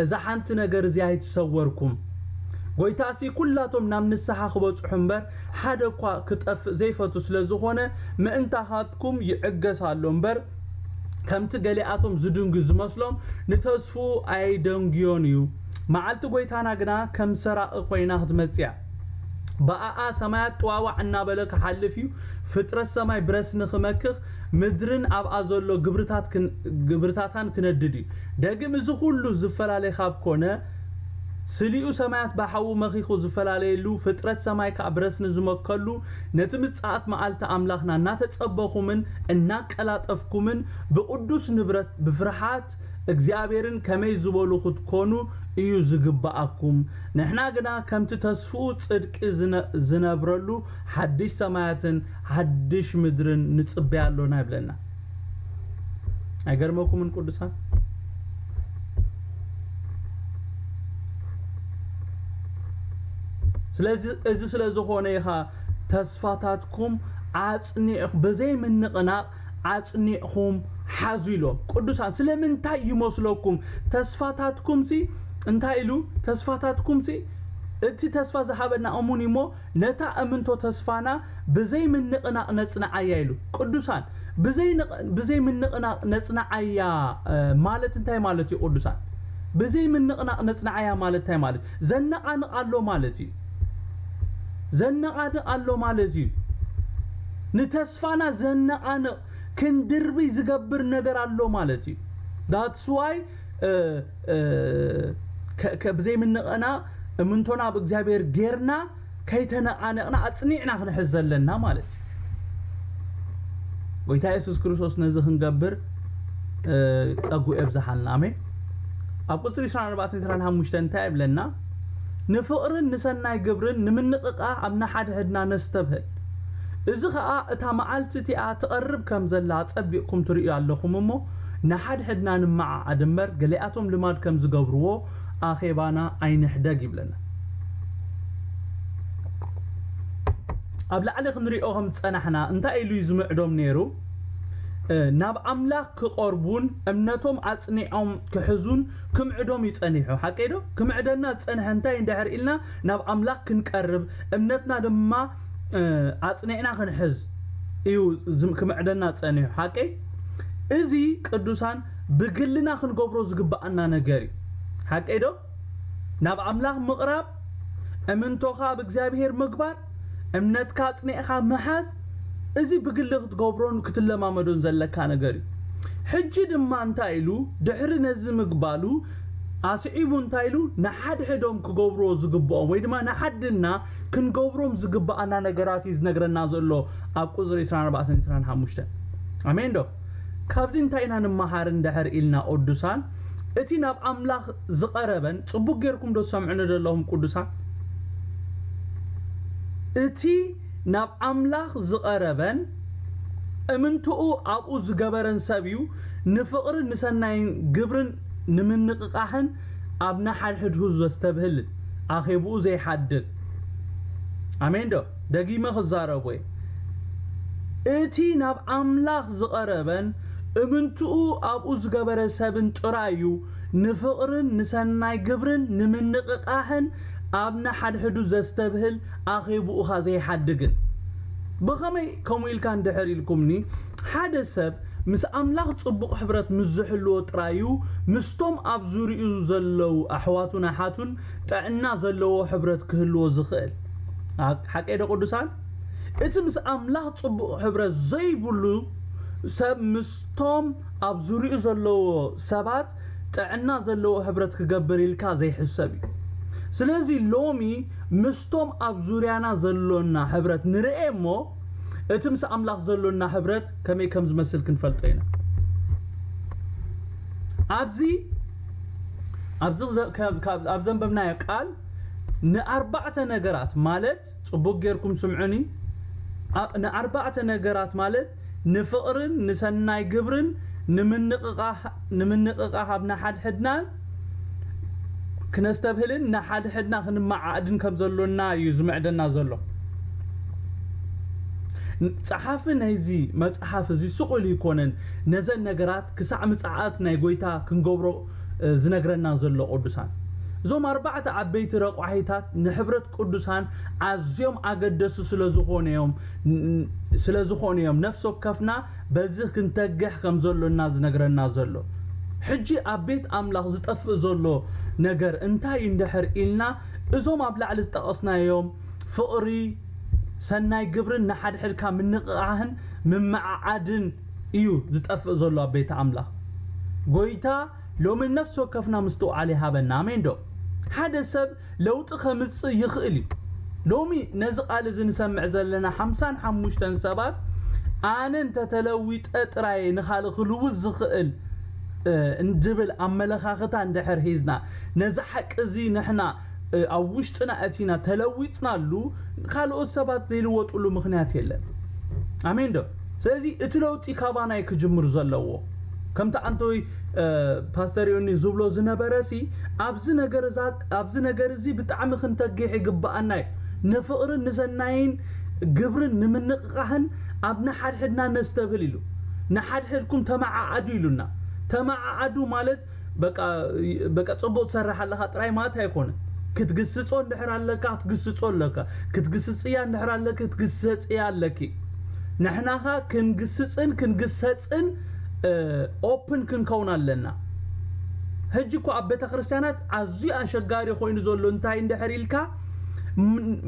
እዛ ሓንቲ ነገር እዚኣ ይትሰወርኩም። ጐይታ'ሲ ኵላቶም ናብ ንስሓ ክበጽሑ እምበር ሓደ እኳ ክጠፍእ ዘይፈቱ ስለ ዝኾነ ምእንታኻትኩም ይዕገስ ኣሎ እምበር ከምቲ ገሊኣቶም ዝድንጒ ዝመስሎም ንተስፍኡ ኣየደንጉዮን እዩ። መዓልቲ ጐይታና ግና ከም ሰራቒ ኮይና ክትመጽእያ። ብኣኣ ሰማያት ጥዋዋዕ እናበለ ክሓልፍ እዩ፣ ፍጥረት ሰማይ ብረስኒ ክመክኽ፣ ምድርን ኣብኣ ዘሎ ግብርታታን ክነድድ እዩ። ደግም እዚ ኹሉ ዝፈላለ ካብ ኮነ፣ ስሊኡ ሰማያት ብሓዊ መኺኹ ዝፈላለየሉ፣ ፍጥረት ሰማይ ከኣ ብረስኒ ዝመከሉ፣ ነቲ ምጽኣት መኣልቲ ኣምላኽና እናተጸበኹምን እናቀላጠፍኩምን ብቕዱስ ንብረት ብፍርሓት እግዚኣብሔርን ከመይ ዝበሉ ክትኮኑ እዩ ዝግበኣኩም ንሕና ግና ከምቲ ተስፍኡ ጽድቂ ዝነብረሉ ሓድሽ ሰማያትን ሓድሽ ምድርን ንጽበይ ኣሎና ይብለና ኣይገርመኩምን ቅዱሳን ስለዚ እዚ ስለ ዝኾነ ኢኻ ተስፋታትኩም ኣጽኒዕ ብዘይ ምንቕናቕ ኣጽኒዕኩም ሓዙ ኢሎም። ቅዱሳን ስለምንታይ ይመስለኩም? ተስፋታትኩምሲ እንታይ ኢሉ? ተስፋታትኩምሲ እቲ ተስፋ ዝሃበና እሙን እዩሞ ነታ እምንቶ ተስፋና ብዘይ ምንቕናቕ ነጽንዓያ ኢሉ። ቅዱሳን ብዘይ ብዘይ ምንቕናቕ ነጽንዓያ ማለት እንታይ ማለት እዩ? ቅዱሳን ብዘይ ምንቕናቕ ነጽንዓያ ማለት እንታይ ማለት እዩ? ዘነቓንቕ ኣሎ ማለት እዩ። ዘነቓንቕ ኣሎ ማለት እዩ። ንተስፋ ተስፋና ዘነቓንቕ ክንድርብይ ዝገብር ነገር ኣሎ ማለት እዩ that's why ብዘይ ምንቕና እምንቶና ኣብ እግዚኣብሔር ጌርና ከይተነቓነቕና ኣጽኒዕና ክንሕዝ ዘለና ማለት እዩ ጎይታ የሱስ ክርስቶስ ነዚ ክንገብር ጸጉ የብዝሓልና ኣሜን ኣብ ቁጽሪ 24 25 እንታይ ይብለና ንፍቕርን ንሰናይ ግብርን ንምንቕቓ ኣብ ንሓድሕድና ነስተብህል እዚ ኸኣ እታ መዓልቲ እቲኣ ትቐርብ ከም ዘላ ኣጸቢቕኩም ትርእዩ ኣለኹም እሞ፣ ንሓድሕድና ንመዓዓድ እምበር፣ ገሊኣቶም ልማድ ከም ዝገብርዎ ኣኼባና ኣይንሕደግ ይብለና። ኣብ ላዕሊ ክንሪኦ ከም ዝጸናሕና እንታይ ኢሉ እዩ ዝምዕዶም ነይሩ? ናብ ኣምላኽ ክቐርቡን እምነቶም ኣጽኒዖም ክሕዙን ክምዕዶም እዩ ጸኒሑ። ሓቀይዶ? ክምዕደና ዝጸንሐ እንታይ እዩ እንድሕር ኢልና፣ ናብ ኣምላኽ ክንቀርብ እምነትና ድማ ኣጽኒዕና ክንሕዝ እዩ ክምዕደና ጸኒሑ ሓቀይ እዚ ቅዱሳን ብግልና ክንገብሮ ዝግብኣና ነገር እዩ ሓቀይ ዶ ናብ ኣምላኽ ምቕራብ እምንቶኻ ኣብ እግዚኣብሄር ምግባር እምነትካ ኣጽኒዕካ ምሓዝ እዚ ብግሊ ክትገብሮን ክትለማመዶን ዘለካ ነገር እዩ። ሕጂ ድማ እንታይ ኢሉ ድሕሪ ነዚ ምግባሉ ኣስዒቡ እንታይ ኢሉ ንሓድሕዶም ክገብርዎ ዝግብኦም ወይ ድማ ንዓድና ክንገብሮም ዝግብኣና ነገራት እዩ ዝነግረና ዘሎ ኣብ ቁጽሪ ዕስራን ኣርባዕተን ዕስራን ሓሙሽተን ኣሜን ዶ ካብዚ እንታይ ኢና ንመሃር እንድሕር ኢልና ቁዱሳን እቲ ናብ ኣምላኽ ዝቐረበን ጽቡቅ ጌርኩም ዶ ትሰምዑኒ ዶ ኣለኹም ቅዱሳን እቲ ናብ ኣምላኽ ዝቐረበን እምንትኡ ኣብኡ ዝገበረን ሰብ እዩ ንፍቕርን ንሰናይን ግብርን ንምንቕቓሕን ኣብ ንሓድሕድሁ ዘስተብህልን ኣኼብኡ ዘይሓድግ ኣሜን ዶ ደጊመ ክዛረቦ'የ፣ እቲ ናብ ኣምላኽ ዝቐረበን እምንትኡ ኣብኡ ዝገበረ ሰብን ጥራይ'ዩ ንፍቕርን ንሰናይ ግብርን ንምንቕቓሕን ኣብ ንሓድሕዱ ዘስተብህል ኣኼቡኡኻ ዘይሓድግን። ብኸመይ ከምኡ ኢልካ እንድሕር ኢልኩምኒ፣ ሓደ ሰብ ምስ ኣምላኽ ጽቡቕ ሕብረት ምስ ዝሕልዎ ጥራይ'ዩ ምስቶም ኣብ ዙርያኡ ዘለዉ ኣሕዋቱን ኣሓቱን ጥዕና ዘለዎ ሕብረት ክህልዎ ዝኽእል። ሓቀይዶ ቅዱሳን? እቲ ምስ ኣምላኽ ጽቡቕ ሕብረት ዘይብሉ ሰብ ምስቶም ኣብ ዙርያኡ ዘለዎ ሰባት ጥዕና ዘለዎ ሕብረት ክገብር ኢልካ ዘይሕሰብ እዩ። ስለዚ ሎሚ ምስቶም ኣብ ዙርያና ዘሎና ሕብረት ንርኤ እሞ እቲ ምስ ኣምላኽ ዘሎና ሕብረት ከመይ ከም ዝመስል ክንፈልጦ ኢና። ኣብዚ ኣብ ዘንበብናዮ ቃል ንኣርባዕተ ነገራት ማለት ጽቡቅ ጌርኩም ስምዑኒ ንኣርባዕተ ነገራት ማለት ንፍቅርን ንሰናይ ግብርን ንምንቅቃሃብ ንሓድሕድናን ክነስተብህልን ንሓድሕድና ክንመዓዕድን ከም ዘሎና እዩ ዝምዕደና ዘሎ። ጸሓፊ ናይዚ መጽሓፍ እዚ ስቅ ኢሉ ኣይኮነን ነዘን ነገራት ክሳዕ ምጽኣት ናይ ጐይታ ክንገብሮ ዝነግረና ዘሎ ቅዱሳን። እዞም ኣርባዕተ ዓበይቲ ረቋሒታት ንሕብረት ቅዱሳን ኣዝዮም ኣገደሱ ስለ ዝኾኑ እዮም ስለ ዝኾኑ እዮም ነፍሲ ወከፍና በዚ ክንተግሕ ከም ዘሎና ዝነግረና ዘሎ። ሕጂ ኣብ ቤት ኣምላኽ ዝጠፍእ ዘሎ ነገር እንታይ እዩ እንድሕር ኢልና እዞም ኣብ ላዕሊ ዝጠቐስናዮም ፍቕሪ ሰናይ ግብርን ንሓድሕድካ ምንቕቓህን ምምዕዓድን እዩ ዝጠፍእ ዘሎ ኣብ ቤተ ኣምላኽ። ጎይታ ሎሚ ንነፍሲ ወከፍና ምስትውዓል ይሃበና። ኣሜን ዶ? ሓደ ሰብ ለውጢ ከምጽእ ይኽእል እዩ። ሎሚ ነዚ ቃል እዚ ንሰምዕ ዘለና ሓምሳን ሓሙሽተን ሰባት ኣነ እንተ ተለዊጠ ጥራይ እየ ንኻልእ ክልውጥ ዝኽእል ዝብል ኣመለኻኽታ እንድሕር ሒዝና ነዚ ሓቂ እዚ ንሕና ኣብ ውሽጥና ኣእቲና ተለዊጥናሉ ካልኦት ሰባት ዘይልወጥሉ ምኽንያት የለን ኣሜን ዶ ስለዚ እቲ ለውጢ ካባና እዩ ክጅምር ዘለዎ ከምቲ ኣንተወይ ፓስተር ዮኒ ዝብሎ ዝነበረ ሲ ኣብዚ ነገር እዛ ኣብዚ ነገር እዚ ብጣዕሚ ክንተግሕ ይግባኣና እዩ ንፍቕርን ንሰናይን ግብርን ንምንቕቓህን ኣብ ንሓድሕድና ነስተብህል ኢሉ ንሓድሕድኩም ተመዓዓዱ ኢሉና ተመዓዓዱ ማለት በቃ በቃ ጽቡቅ ትሰርሕ ኣለኻ ጥራይ ማለት ኣይኮነን ክትግስጾ እንድሕር ኣለካ ክትግስጾ ኣለካ ክትግስጽያ እንድሕር ኣለኪ ክትግሰጽያ ኣለኪ ንሕናኻ ክንግስጽን ክንግሰጽን ኦፕን ክንከውን ኣለና ሕጂ እኮ ኣብ ቤተክርስትያናት ኣዝዩ ኣሸጋሪ ኮይኑ ዘሎ እንታይ እንድሕር ኢልካ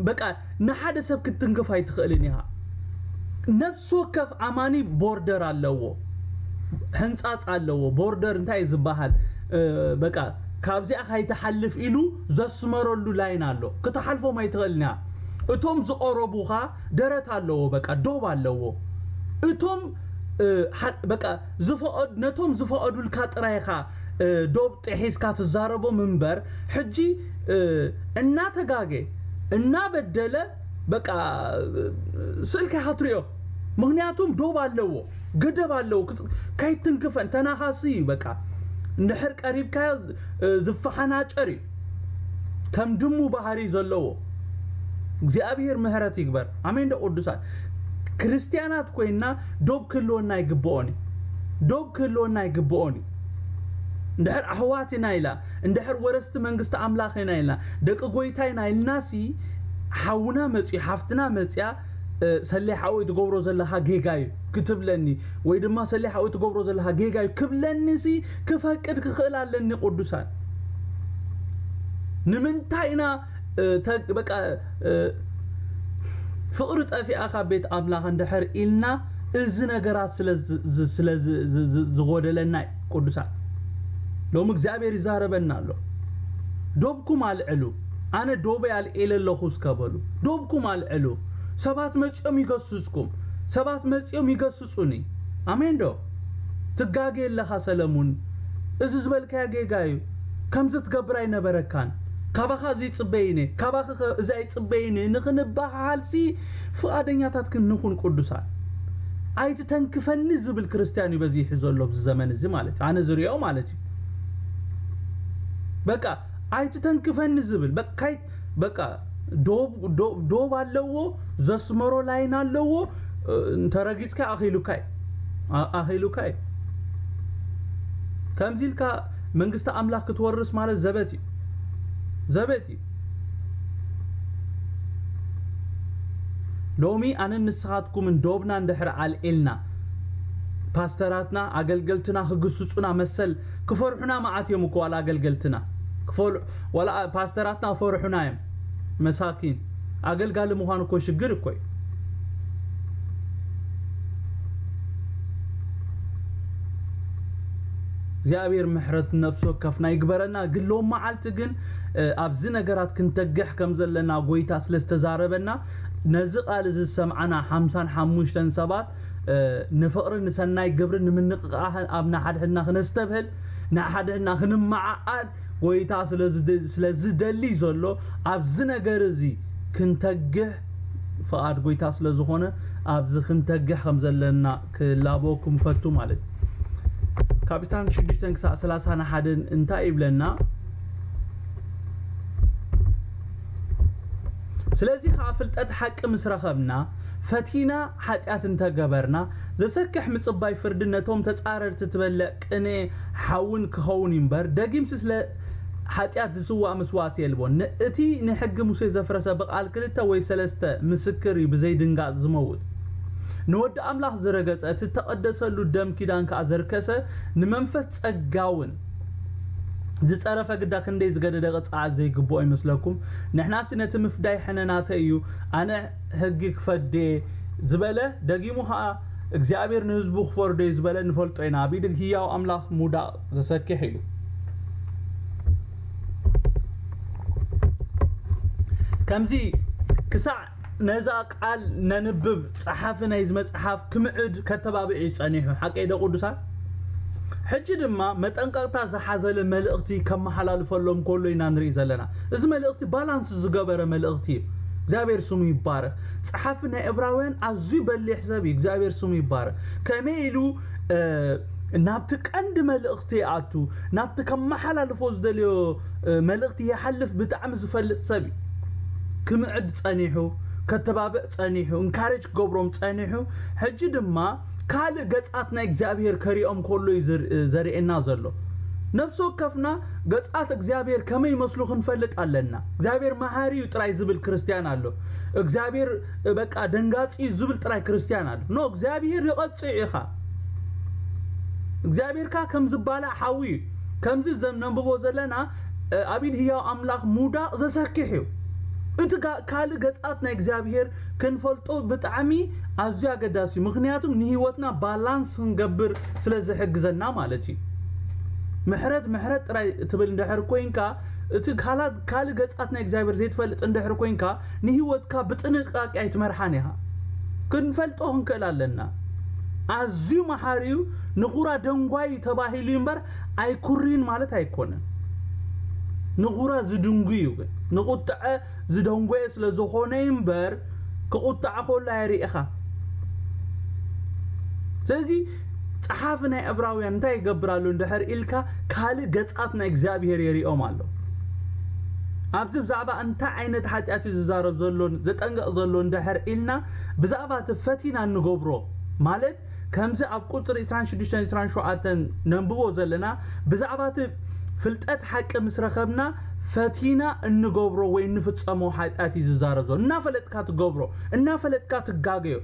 በቃ ንሓደ ሰብ ክትትንክፍ ኣይትኽእልን ኢኻ። ነፍሲ ወከፍ ኣማኒ ቦርደር ኣለዎ ሕንጻጽ ኣለዎ ቦርደር እንታይ እዩ ዝበሃል በቃ ካብዚኣ ካይትሓልፍ ኢሉ ዘስመረሉ ላይን ኣሎ ክትሓልፎም ኣይትኽእልን ኢኻ። እቶም ዝቐረቡኻ ደረት ኣለዎ በቃ ዶብ ኣለዎ እቶም በቃ ዝፈቐድ ነቶም ዝፈቐዱልካ ጥራይ ኢኻ ዶብ ጢሒስካ ትዛረቦም እንበር ሕጂ እናተጋጌ እናበደለ በቃ ስእልካ ኢኻ ትሪኦ ምኽንያቱም ዶብ ኣለዎ ገደብ ኣለዎ ከይትንክፈን ተናኻሲ እዩ በቃ እንድሕር ቀሪብካዮ ዝፋሓናጨር እዩ ከም ድሙ ባህሪ ዘለዎ እግዚኣብሄር ምህረት ይግበር ኣሜን ዶ ቅዱሳት ክርስትያናት ኮይና ዶብ ክህልወና ይግብኦን እዩ ዶብ ክህልወና ይግብኦን እዩ እንድሕር ኣሕዋት ኢና ኢላ እንድሕር ወረስቲ መንግስቲ ኣምላኽ ኢና ኢልና ደቂ ጎይታ ኢና ኢልናሲ ሓውና መፅዩ ሓፍትና መፅያ ሰሌ ሓወይ ትገብሮ ዘለኻ ጌጋ እዩ ክትብለኒ ወይ ድማ ሰሌ ሓወይ ትገብሮ ዘለኻ ጌጋ እዩ ክብለኒ ሲ ክፈቅድ ክኽእል ኣለኒ ቅዱሳን ንምንታይ ኢና በቃ ፍቕሪ ጠፊኣ ካብ ቤት ኣምላኽ እንድሕር ኢልና እዚ ነገራት ስለ ዝጎደለና ቅዱሳን ሎሚ እግዚኣብሔር ይዛረበና ኣሎ ዶብኩም ኣልዕሉ ኣነ ዶበይ ኣልዒለ ኣለኹ እስከ በሉ ዶብኩም ኣልዕሉ ሰባት መጺኦም ይገስጽኩም ሰባት መጺኦም ይገስጹኒ ኣሜን ዶ ትጋጌ ኣለኻ ሰለሙን እዚ ዝበልካዮ ጌጋ እዩ ከምዚ ትገብር ኣይነበረካን ካባኻ እዚ ይጽበይ እነ ካባኺ ከ እዚ ኣይጽበይን ንኽንበሃሃል ሲ ፍቓደኛታት ክን ንኹን ቁዱሳን ኣይትተንክፈኒ ዝብል ክርስትያን እዩ በዚሑ ዘሎ ኣብዚ ዘመን እዚ ማለት እዩ ኣነ ዝሪኦ ማለት እዩ በቃ ኣይትተንክፈኒ ዝብል በቃ በቃ ዶብ ዶብ ኣለዎ ዘስመሮ ላይን ኣለዎ እንተረጊጽካ ኣኺሉካ ኣኺሉካ እዩ ከምዚ ኢልካ መንግስቲ ኣምላኽ ክትወርስ ማለት ዘበት እዩ ዘበት እዩ ሎሚ ኣነን ንስኻትኩምን ዶብና እንድሕር ኣልዒልና ፓስተራትና ኣገልገልትና ክግስጹና መሰል ክፈርሑና መዓት እዮም እኮ ዋላ ኣገልገልትና ክፈል ዋላ ፓስተራትና ክፈርሑና እዮም መሳኪን ኣገልጋሊ ምኳን እኮ ሽግር እኮ እዩ። እግዚኣብሔር ምሕረት ነፍሲ ወከፍና ይግበረና ግን ሎም መዓልቲ ግን ኣብዚ ነገራት ክንተግሕ ከም ዘለና ጎይታ ስለ ዝተዛረበና ነዚ ቃል እዚ ዝሰምዓና ሓምሳን ሓሙሽተን ሰባት ንፍቕሪ፣ ንሰናይ ግብሪ፣ ንምንቕቓሕን ኣብ ንሓድሕድና ክነስተብህል፣ ንሓድሕድና ክንመዓዓድ ጐይታ ስለ ዝደሊ ዘሎ ኣብዚ ነገር እዚ ክንተግህ ፍቓድ ጐይታ ስለ ዝኾነ ኣብዚ ክንተግህ ከም ዘለና ክላበወኩም እፈቱ ማለት እዩ። ካብ ኢስታን ሽዱሽተን ክሳዕ ሰላሳን ሓደን እንታይ ይብለና? ስለዚ ከዓ ፍልጠት ሓቂ ምስ ረኸብና ፈቲና ሓጢኣት እንተ ገበርና፣ ዘሰክሕ ምጽባይ ፍርዲ ነቶም ተጻረርቲ ትበልዕ ቅኔ ሓውን ኪኸውን እዩ እምበር፣ ደጊምሲ ስለ ሓጢኣት ዚስዋእ መስዋእቲ የልቦን። ን እቲ ንሕጊ ሙሴ ዘፍረሰ ብቓል ክልተ ወይ ሰለስተ ምስክር እዩ ብዘይ ድንጋጽ ዚመውት። ን ወዲ ኣምላኽ ዝረገጸ፣ እቲ እተቐደሰሉ ደም ኪዳን ከኣ ዘርከሰ፣ ንመንፈስ ጸጋውን ዚጸረፈ ግዳ ክንደይ ዝገደደ ቅጽዓት ዘይግብኦ ይመስለኩም? ንሕናሲ ነቲ ምፍዳይ ሕነ ናተይ እዩ፣ ኣነ፣ ህግ ክፈድዴ ዝበለ ደጊሙ ከኣ እግዚኣብሔር ንህዝቡ ክፈርዶዩ ዝበለ ንፈልጦ ኢና ኣብ ኢድ ህያው ኣምላኽ ምውዳቅ ዘሰኪሕ ኢዩ ከምዚ ክሳዕ ነዛ ቃል ነንብብ ጸሓፊ ናይዚ መጽሓፍ ክምዕድ ከተባብዕ ኢዩ ጸኒሑ ሓቀይዶ ቅዱሳን ሕጂ ድማ መጠንቀቕታ ዝሓዘለ መልእኽቲ ከመሓላልፈሎም ከሎ ኢና ንርኢ ዘለና። እዚ መልእኽቲ ባላንስ ዝገበረ መልእኽቲ እዩ። እግዚኣብሔር ስሙ ይባረክ። ጸሓፊ ናይ እብራውያን ኣዝዩ በሊሕ ሰብ እዩ። እግዚኣብሔር ስሙ ይባረክ። ከመይ ኢሉ ናብቲ ቀንዲ መልእኽቲ ይኣቱ፣ ናብቲ ከመሓላልፎ ዝደልዮ መልእኽቲ ይሓልፍ ብጣዕሚ ዝፈልጥ ሰብ እዩ። ክምዕድ ጸኒሑ ከተባብዕ ጸኒሑ እንካሬጅ ክገብሮም ጸኒሑ ሕጂ ድማ ካልእ ገጻት ናይ እግዚኣብሄር ከሪኦም ከሎ እዩ ዘርእየና ዘሎ። ነፍሲ ወከፍና ገጻት እግዚኣብሄር ከመይ ይመስሉ ክንፈልጥ ኣለና። እግዚኣብሄር መሃሪ እዩ ጥራይ ዝብል ክርስትያን ኣሎ። እግዚኣብሄር በቃ ደንጋጺ እዩ ዝብል ጥራይ ክርስትያን ኣሎ። ኖ እግዚኣብሄር ይቐጽዕ ኢኻ። እግዚኣብሄር ከኣ ከም ዝባላዕ ሓዊ እዩ። ከምዚ ዘም ነንብቦ ዘለና ኣብ ኢድ ህያው ኣምላኽ ምውዳቕ ዘሰክሕ እዩ። እቲ ካልእ ገጻት ናይ እግዚኣብሄር ክንፈልጦ ብጣዕሚ ኣዝዩ ኣገዳሲ እዩ ምክንያቱም ንሂወትና ባላንስ ክንገብር ስለ ዝሕግዘና ማለት እዩ ምሕረት ምሕረት ጥራይ ትብል እንድሕር ኮንካ እቲ ካላት ካልእ ገጻት ናይ እግዚኣብሔር ዘይትፈልጥ እንድሕር ኮንካ ንሂወትካ ብጥንቃቄ ኣይትመርሓን ኢኻ ክንፈልጦ ክንክእል ኣለና ኣዝዩ መሓሪ እዩ ንኹራ ደንጓይ ተባሂሉ እዩ እምበር ኣይኩሪን ማለት ኣይኮነን ንኹራ ዝድንጉ እዩ ግን ንቁጥዐ ዝደንጎየ ስለ ዝኾነ እዩ እምበር ክቁጣዕ ኮሎ ኣይርኢኻ ስለዚ ጸሓፊ ናይ ዕብራውያን እንታይ ይገብር ኣሎ እንድሕር ኢልካ ካልእ ገጻት ናይ እግዚኣብሄር የሪኦም ኣሎ ኣብዚ ብዛዕባ እንታይ ዓይነት ሓጢኣት እዩ ዝዛረብ ዘሎ ዘጠንቅቕ ዘሎ እንድሕር ኢልና ብዛዕባ እቲ ፈቲና እንገብሮ ማለት ከምዚ ኣብ ቍጽሪ ዕስራን ሽዱሽተን ዕስራን ሸውዓተን ነንብቦ ዘለና፣ ብዛዕባ እቲ ፍልጠት ሓቂ ምስ ረኸብና ፈቲና እንገብሮ ወይ እንፍጸሞ ሓጢኣት እዩ ዝዛረብ ዘሎ። እናፈለጥካ ትገብሮ፣ እናፈለጥካ ትጋገዮ፣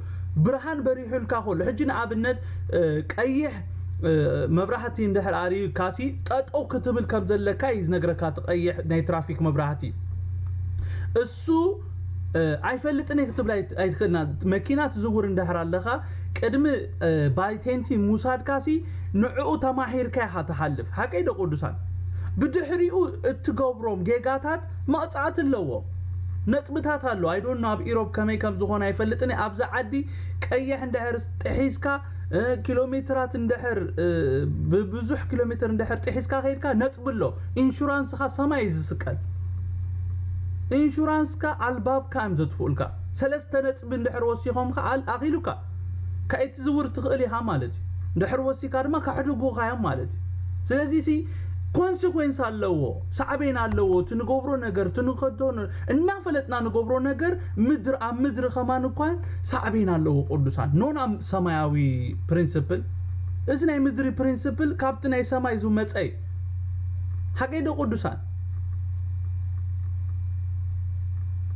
ብርሃን በሪሑልካ ከሎ፣ ሕጂ ንኣብነት ቀይሕ መብራህቲ እንድሕር ኣርእዩካሲ ጠጠው ክትብል ከም ዘለካ እዩ ዝነግረካ፣ እቲ ቀይሕ ናይ ትራፊክ መብራህቲ። ንሱ ኣይፈልጥን እየ ክትብል ኣይትክእልን እያ መኪና ትዝውር እንድሕር ኣለካ ቅድሚ ባይ ቴንቲ ምውሳድካ ሲ ንዕኡ ተማሂርካ ኢካ ትሓልፍ ሓቀይ ዶ ቅዱሳን ብድሕሪኡ እትገብሮም ጌጋታት መቅጻዕቲ ኣለዎ ነጥብታት ኣሎ ኣይ ዶንት ኖ ኣብ ኢሮብ ከመይ ከም ዝኮነ ኣይፈልጥን እየ ኣብዚ ዓዲ ቀይሕ እንድሕር ጥሒስካ ኪሎሜትራት እንድሕር ብብዙሕ ኪሎሜትር እንድሕር ጢሒስካ ከይድካ ነጥቢ ኣሎ ኢንሹራንስኻ ሰማይ እዩ ዝስቀል ኢንሹራንስካ ኣልባብካ እዮም ዘጥፍኡልካ ሰለስተ ነጥቢ እንድሕር ወሲኾም ከኣ ኣኺሉካ ከይትዝውር ትኽእል ኢኻ ማለት እዩ እንድሕር ወሲካ ድማ ከሕድጉኻ እዮም ማለት እዩ ስለዚ ሲ ኮንሲኩዌንስ ኣለዎ ሳዕቤን ኣለዎ እቲ ንገብሮ ነገር እቲ ንኸዶ እናፈለጥና ንገብሮ ነገር ምድር ኣብ ምድሪ ከማን እኳ ሳዕቤን ኣለዎ ቁዱሳን ኖና ሰማያዊ ፕሪንስፕል እዚ ናይ ምድሪ ፕሪንስፕል ካብቲ ናይ ሰማይ ዝመጸ እዩ ሓቀይ ዶ ቁዱሳን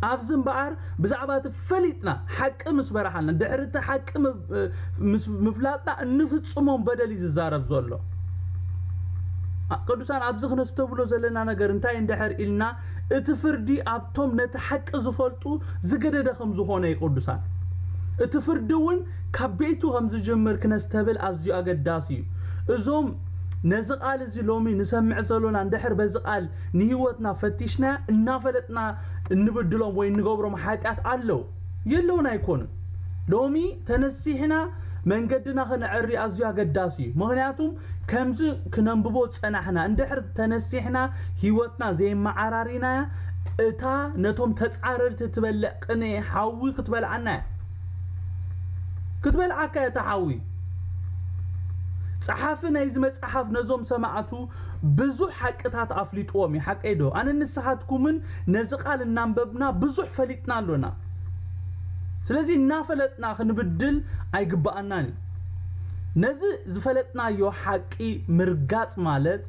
ኣብዚ እምበኣር ብዛዕባ እቲ ፈሊጥና ሓቂ ምስ በረሓልና ድሕሪ እቲ ሓቂ ምፍላጥና እንፍጽሞም በደል እዩ ዝዛረብ ዘሎ ቅዱሳን ኣብዚ ክነስተብሎ ዘለና ነገር እንታይ እንድሕር ኢልና እቲ ፍርዲ ኣብቶም ነቲ ሓቂ ዝፈልጡ ዝገደደ ከም ዝኾነ እዩ ቅዱሳን። እቲ ፍርዲ እውን ካብ ቤቱ ከም ዝጅምር ክነስተብል ኣዝዩ ኣገዳሲ እዩ። እዞም ነዚ ቃል እዚ ሎሚ ንሰምዕ ዘሎና እንድሕር በዚ ቃል ንህይወትና ፈቲሽናያ እናፈለጥና እንብድሎም ወይ እንገብሮም ሓጢኣት ኣለው የለውን ኣይኮኑን ሎሚ ተነሲሕና መንገድና ክነዐሪ ኣዝዩ ኣገዳሲ እዩ ምክንያቱ ከምዚ ክነንብቦ ዝጸናሕና እንድሕር ተነሲሕና ህይወትና ዘየመዓራሪናያ እታ ነቶም ተጻረርቲ እትበልዕ ቅንኢ ሓዊ ክትበልዓና እያ። ክትበልዓካ እያ እታ ሓዊ። ጸሓፊ ናይዚ መጽሓፍ ነዞም ሰማዕቱ ብዙሕ ሓቅታት ኣፍሊጥዎም እዩ ሓቀይዶ? ኣነን ንስኻትኩምን ነዚ ቃል እናንበብና ብዙሕ ፈሊጥና ኣሎና። ስለዚ እናፈለጥና ክንብድል ኣይግብኣናን እዩ። ነዚ ዝፈለጥናዮ ሓቂ ምርጋጽ ማለት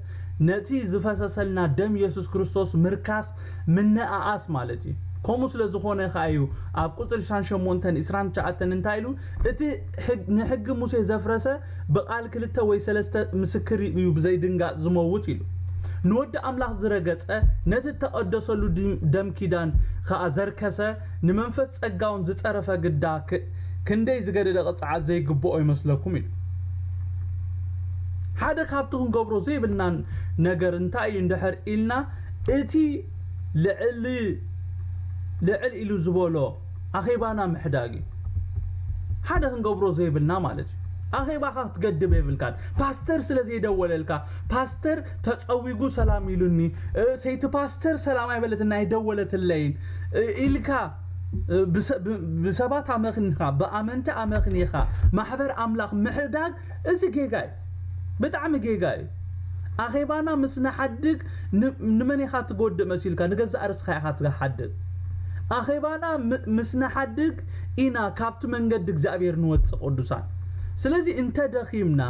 ነቲ ዝፈሰሰልና ደም የሱስ ክርስቶስ ምርካስ ምንእኣስ ማለት እዩ። ከምኡ ስለ ዝኾነ ከኣ እዩ ኣብ ቁጽሪ ዕስራን ሸሞንተን ዕስራን ትሽዓተን እንታይ ኢሉ እቲ ንሕጊ ሙሴ ዘፍረሰ ብቃል ክልተ ወይ ሰለስተ ምስክር እዩ ብዘይድንጋጽ ዝመውት ኢሉ ንወዲ ኣምላኽ ዝረገጸ ነቲ እተቀደሰሉ ደም ኪዳን ከኣ ዘርከሰ ንመንፈስ ጸጋውን ዝጸረፈ ግዳ ከ ክንደይ ዝገደደ ቅጽዓት ዘይግብኦ ይመስለኩም ኢሉ። ሓደ ካብቲ ክንገብሮ ዘይብልና ነገር እንታይ እዩ እንድሕር ኢልና እቲ ልዕል ልዕል ኢሉ ዝበሎ ኣኼባና ምሕዳግ እዩ። ሓደ ክንገብሮ ዘይብልና ማለት እዩ። ኣኼባኻ ክትገድብ የብልካን። ፓስተር ስለ ዘይደወለልካ፣ ፓስተር ተጸዊጉ ሰላም ኢሉኒ ሰይቲ ፓስተር ሰላም ኣይበለትን ኣይደወለትለይን ኢልካ ብሰባት ኣመኽኒኻ ብኣመንቲ ኣመኽኒኻ ማሕበር ኣምላኽ ምሕዳግ እዚ ጌጋ እዩ ብጣዕሚ ጌጋ እዩ ኣኼባና ምስ ንሓድግ ንመን ኢኻ ትጎድእ መሲልካ ንገዛእ ርስኻ ኢኻ ትሓድግ ኣኼባና ምስ ንሓድግ ኢና ካብቲ መንገዲ እግዚኣብሔር ንወጽእ ቅዱሳን ስለዚ እንተ ደኺምና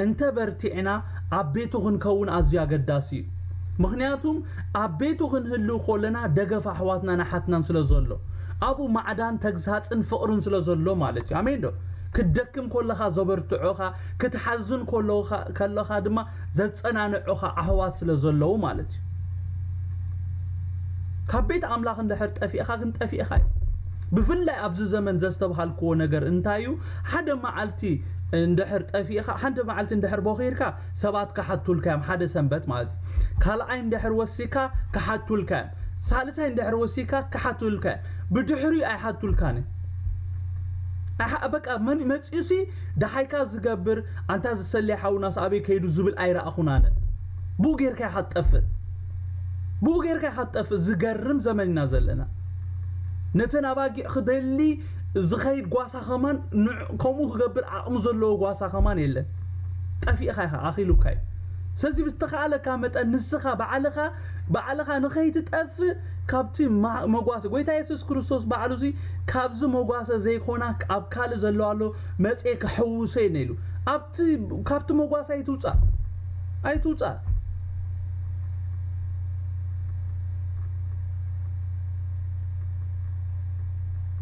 እንተ በርቲዕና ኣብ ቤቱ ክንከውን ኣዝዩ ኣገዳሲ እዩ። ምኽንያቱም ኣብ ቤቱ ክንህልው ኮለና ደገፍ ኣሕዋትናን ኣሓትናን ስለ ዘሎ። ኣብኡ ማዕዳን ተግሳጽን ፍቕርን ስለ ዘሎ ማለት እዩ። ኣሜን ዶ? ክትደክም ኮለኻ ዘበርትዑኻ፣ ክትሓዝን ከለኻ ድማ ዘጸናንዑኻ ኣሕዋት ስለ ዘለዉ ማለት እዩ። ካብ ቤት ኣምላኽ እንድሕር ጠፊእኻ ግን ጠፊእኻ እዩ። ብፍላይ ኣብዚ ዘመን ዘስተብሃልክዎ ነገር እንታይ እዩ ሓደ መዓልቲ እንድሕር ጠፊእኻ ሓንቲ መዓልቲ እንድሕር ቦኺርካ ሰባት ክሓቱልካ እዮም ሓደ ሰንበት ማለት እዩ ካልኣይ እንድሕር ወሲካ ክሓቱልካ እዮም ሳልሳይ እንድሕር ወሲካ ክሓቱልካ እዮም ብድሕሪኡ ኣይሓቱልካን እዩ ኣሓ በቃ መን መጺኡሲ ደሓይካ ዝገብር ኣንታ ዝሰለየ ሓውናስ ኣበይ ከይዱ ዝብል ኣይረኣኹን ኣነ ብኡ ጌርካ ኢኻ ትጠፍእ ብኡ ጌርካ ኢኻ ትጠፍእ ዝገርም ዘመን ኢና ዘለና ነተን ኣባጊዕ ክደሊ ዝኸይድ ጓሳ ጓሳ ከማን ንዕ ከምኡ ክገብር ዓቕሚ ዘለዎ ጓሳ ከማን የለን ጠፊእኻ ኢኻ ኣኺሉካ እዩ ስለዚ ብዝተኻኣለካ መጠን ንስኻ ባዕልኻ ባዕልኻ ንኸይትጠፍእ ካብቲ መጓሰ ጎይታ የሱስ ክርስቶስ ባዕሉ እዚ ካብዚ መጓሰ ዘይኮና ኣብ ካልእ ዘለዎ ኣሎ መጽኤ ክሕውሶ እየ ነኢሉ ኣብቲ ካብቲ መጓሰ ኣይትውጻእ ኣይትውጻእ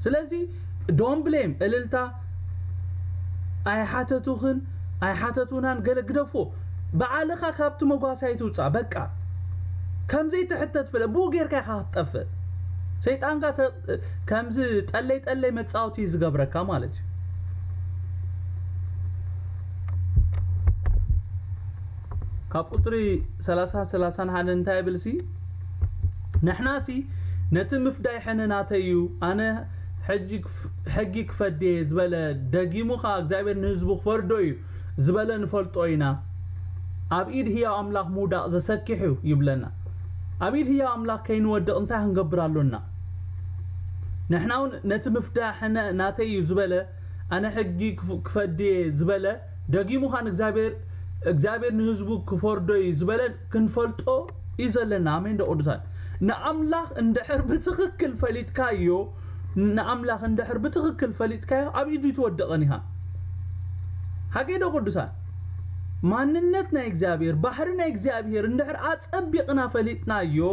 ስለዚ Don't blame እልልታ ኣይሓተቱክን ኣይሓተቱናን ገለ ግደፎ ባዓልካ ካብቲ መጓሳይ ትውጻእ በቃ ከምዘይ ትሕተት ፍለ ብኡ ገርካ ኢካ ክትጠፍእ ሰይጣንካ ተ ከምዚ ጠለይ ጠለይ መጻወቲ እዩ ዝገብረካ ማለት እዩ። ካብ ቁጽሪ ሰላሳን ሰላሳን ሓደን እንታይ ይብል ሲ። ንሕናሲ ነቲ ምፍዳይ ሕነ ናተይ'ዩ ኣነ ሕጊ ክፈድድ'የ ዝበለ ደጊሙ ከኣ እግዚኣብሔር ንህዝቡ ክፈርዶ'ዩ ዝበለ ንፈልጦ ኢና ኣብ ኢድ ህያው ኣምላኽ ምውዳቕ ዘሰኪሕ'ዩ ይብለና ኣብ ኢድ ህያው ኣምላኽ ከይንወድቕ እንታይ ክንገብር ኣሎና ንሕናውን ነቲ ምፍዳ ሕነ ናተይ'ዩ ዝበለ ኣነ ሕጊ ክፈድድ'የ ዝበለ ደጊሙኻ እግዚኣብሔር ንህዝቡ ክፈርዶ'ዩ ዝበለ ክንፈልጦ እዩ ዘለና ኣሜን ዶ ቅዱሳን ንኣምላኽ እንድሕር ብትኽክል ፈሊጥካዮ ንኣምላኽ እንድሕር ብትኽክል ፈሊጥካዮ ኣብ ኢዱ ኣይትወድቕን ኢኻ ሓቀይ ዶ ቅዱሳን ማንነት ናይ እግዚኣብሔር ባህሪ ናይ እግዚኣብሔር እንድሕር ኣጸቢቕና ፈሊጥናዮ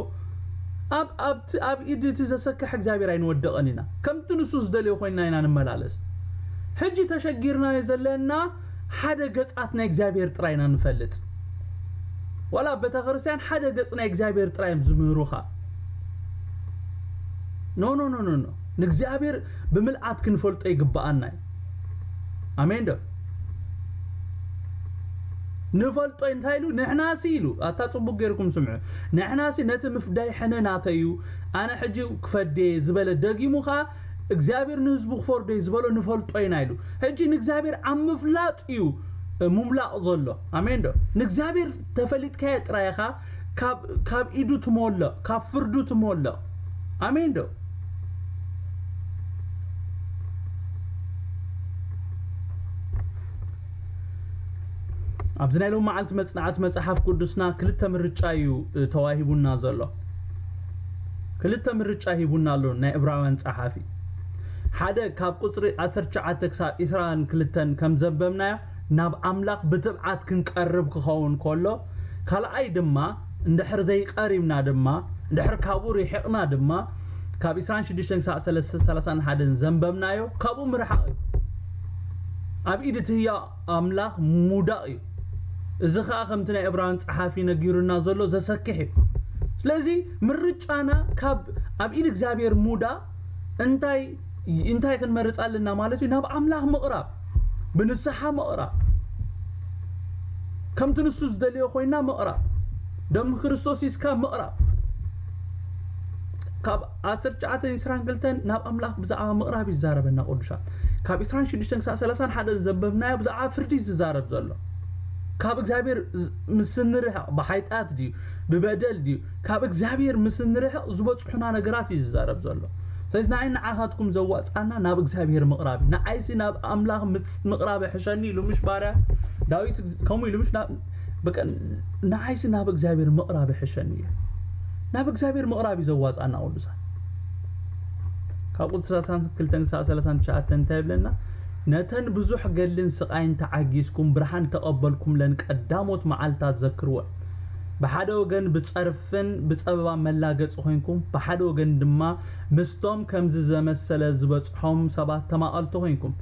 ኣብ ኣብቲ ኣብ ኢድ እቲ ዘሰክሕ እግዚኣብሔር ኣይንወድቕን ኢና ከምቲ ንሱ ዝደልዮ ኮይንና ኢና ንመላለስ ሕጂ ተሸጊርናዮ ዘለና ሓደ ገጻት ናይ እግዚኣብሔር ጥራይ ኢና ንፈልጥ ዋላ ኣብ ቤተክርስትያን ሓደ ገጽ ናይ እግዚኣብሔር ጥራይ እዮም ዝምህሩኻ ኖ ኖ ኖ ኖ ንእግዚኣብሔር ብምልኣት ክንፈልጦ ይግብኣና እዩ ኣሜን ዶ ንፈልጦ እንታይ ኢሉ ንሕናሲ ኢሉ ኣታ ጽቡቅ ጌርኩም ስምዑ ንሕናሲ ነቲ ምፍዳይ ሕነ ናተዩ ኣነ ሕጂ ክፈዴ ዝበለ ደጊሙ ከኣ እግዚኣብሔር ንህዝቡ ክፈርዶ እዩ ዝበሎ ንፈልጦ ኢና ኢሉ ሕጂ ንእግዚኣብሔር ኣብ ምፍላጥ እዩ ሙምላቅ ዘሎ ኣሜን ዶ ንእግዚኣብሔር ተፈሊጥካዮ ጥራይ ኢኻ ካብ ካብ ኢዱ ትሞልቅ ካብ ፍርዱ ትሞልቅ ኣሜን ዶ ኣብዚ ናይ ሎም መዓልቲ መጽናዕቲ መጽሓፍ ቅዱስና ክልተ ምርጫ እዩ ተዋሂቡና ዘሎ ክልተ ምርጫ ሂቡና ኣሎ ናይ እብራውያን ጸሓፊ። ሓደ ካብ ቁጽሪ ዓሰርተ ትሽዓተ ክሳብ ዕስራን ክልተን ከም ዘንበብናዮ ናብ ኣምላኽ ብትብዓት ክንቀርብ ክኸውን ከሎ ካልኣይ ድማ እንድሕር ዘይቀሪብና ድማ እንድሕር ካብኡ ርሒቕና ድማ ካብ ዕስራን ሽዱሽተን ክሳብ ሰላሳን ሓደን ዘንበብናዮ ካብኡ ምርሓቕ እዩ ኣብ ኢድ እቲ ህያው ኣምላኽ ምውዳቕ እዩ። እዚ ኸኣ ከምቲ ናይ እብራውያን ጸሓፊ ነጊሩና ዘሎ ዘሰክሕ እዩ። ስለዚ ምርጫና ካብ ኣብ ኢድ እግዚኣብሔር ምውዳቕ እንታይ እንታይ ክንመርጽ ኣለና ማለት እዩ ናብ ኣምላኽ ምቕራብ ብንስሓ ምቕራብ ከምቲ ንሱ ዝደልዮ ኮይና ምቕራብ ደም ክርስቶስ ይስካ ምቕራብ ካብ ዓሰርተ ትሽዓተን ዕስራን ክልተን ናብ ኣምላኽ ብዛዕባ ምቕራብ እዩ ዝዛረበና ቅዱሳን ካብ ዕስራን ሽዱሽተን ክሳብ ሰላሳን ሓደን ዘንበብናዮ ብዛዕባ ፍርዲ እዩ ዝዛረብ ዘሎ ካብ እግዚኣብሔር ምስ ንርሕቕ ብሓይጣት ድዩ ብበደል ድዩ ካብ እግዚኣብሔር ምስ ንርሕቕ ዝበጽሑና ነገራት እዩ ዝዛረብ ዘሎ ስለዚ ንዓይ ንዓኻትኩም ዘዋጽኣና ናብ እግዚኣብሔር ምቕራብ እዩ ንዓይሲ ናብ ኣምላኽ ምቕራብ ሕሸኒ ኢሉ ምሽ ባርያ ዳዊት ከምኡ ኢሉ ምሽ በቃ ንዓይሲ ናብ እግዚኣብሔር ምቅራብ ይሕሸኒ እዩ ናብ እግዚኣብሔር ምቅራብ እዩ ዘዋጻና ቅዱሳን ካብ ቁጽሪ ሰላሳን ክልተን ክሳብ ሰላሳን ትሽዓተን እንታይ ይብለና ነተን ብዙሕ ገድልን ስቃይን ተዓጊስኩም ብርሃን ተቐበልኩምለን ቀዳሞት መዓልታት ዘክርወን ብሓደ ወገን ብጸርፍን ብጸበባ መላገጺ ኮንኩም ብሓደ ወገን ድማ ምስቶም ከምዚ ዘመሰለ ዝበጽሖም ሰባት ተማቐልቲ ኮንኩም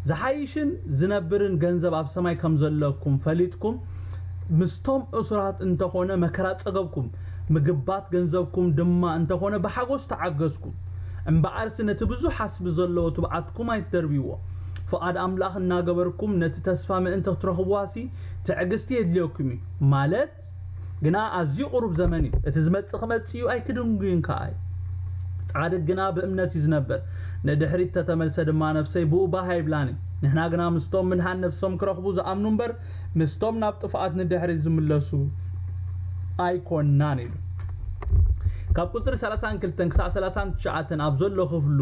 ዝሓይሽን ዝነብርን ገንዘብ ኣብ ሰማይ ከም ዘለኩም ፈሊጥኩም ምስቶም እሱራት እንተ ኾነ መከራ ጸገብኩም ምግባት ገንዘብኩም ድማ እንተ ኾነ ብሓጎስ ተዓገስኩም እምበኣርሲ ነቲ ብዙሕ ዓስቢ ዘለዎ ትብዓትኩም ኣይትደርብይዎ ፍቓድ ኣምላኽ እናገበርኩም ነቲ ተስፋ ምእንቲ ክትረኽብዋሲ ትዕግስቲ የድልየኩም እዩ ማለት ይግለጽ ግና ኣዝዩ ቁሩብ ዘመን እዩ እቲ ዝመጽእ ክመጽእ እዩ ኣይክድንጉይን ከኣ እዩ ጻድቅ ግና ብእምነት እዩ ዝነብር ንድሕሪት ተተመልሰ ድማ ነፍሰይ ብኡ ባህ ኣይብላን እዩ ንሕና ግና ምስቶም ምድኃን ነፍሶም ክረኽቡ ዝኣምኑ እምበር ምስቶም ናብ ጥፍኣት ንድሕሪት ዝምለሱ ኣይኮናን ኢሉ ካብ ቁጽሪ ሰላሳን ክልተን ክሳዕ ሰላሳን ትሽዓተን ኣብ ዘሎ ክፍሉ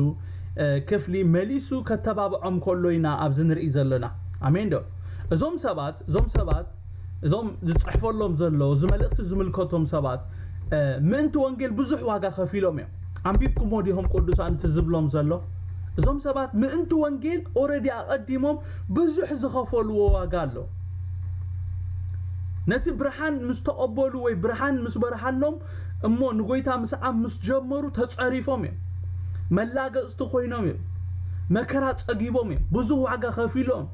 ክፍሊ መሊሱ ከተባብዖም ከሎ ኢና ኣብዚ ንርኢ ዘሎና ኣሜን ዶ እዞም ሰባት እዞም ሰባት እዞም ዝጽሕፈሎም ዘሎ እዚ መልእኽቲ ዝምልከቶም ሰባት ምእንቲ ወንጌል ብዙሕ ዋጋ ከፊሎም እዮም ኣንቢብኩሞ ዲኹም ቅዱሳን እቲ ዝብሎም ዘሎ እዞም ሰባት ምእንቲ ወንጌል ኦረዲ ኣቐዲሞም ብዙሕ ዝኸፈልዎ ዋጋ ኣሎ ነቲ ብርሃን ምስ ተቐበሉ ወይ ብርሃን ምስ በርሃሎም እሞ ንጎይታ ምስዓም ምስ ጀመሩ ተጸሪፎም እዮም መላገጽቲ ኮይኖም እዮም መከራ ጸጊቦም እዮም ብዙሕ ዋጋ ከፊሎም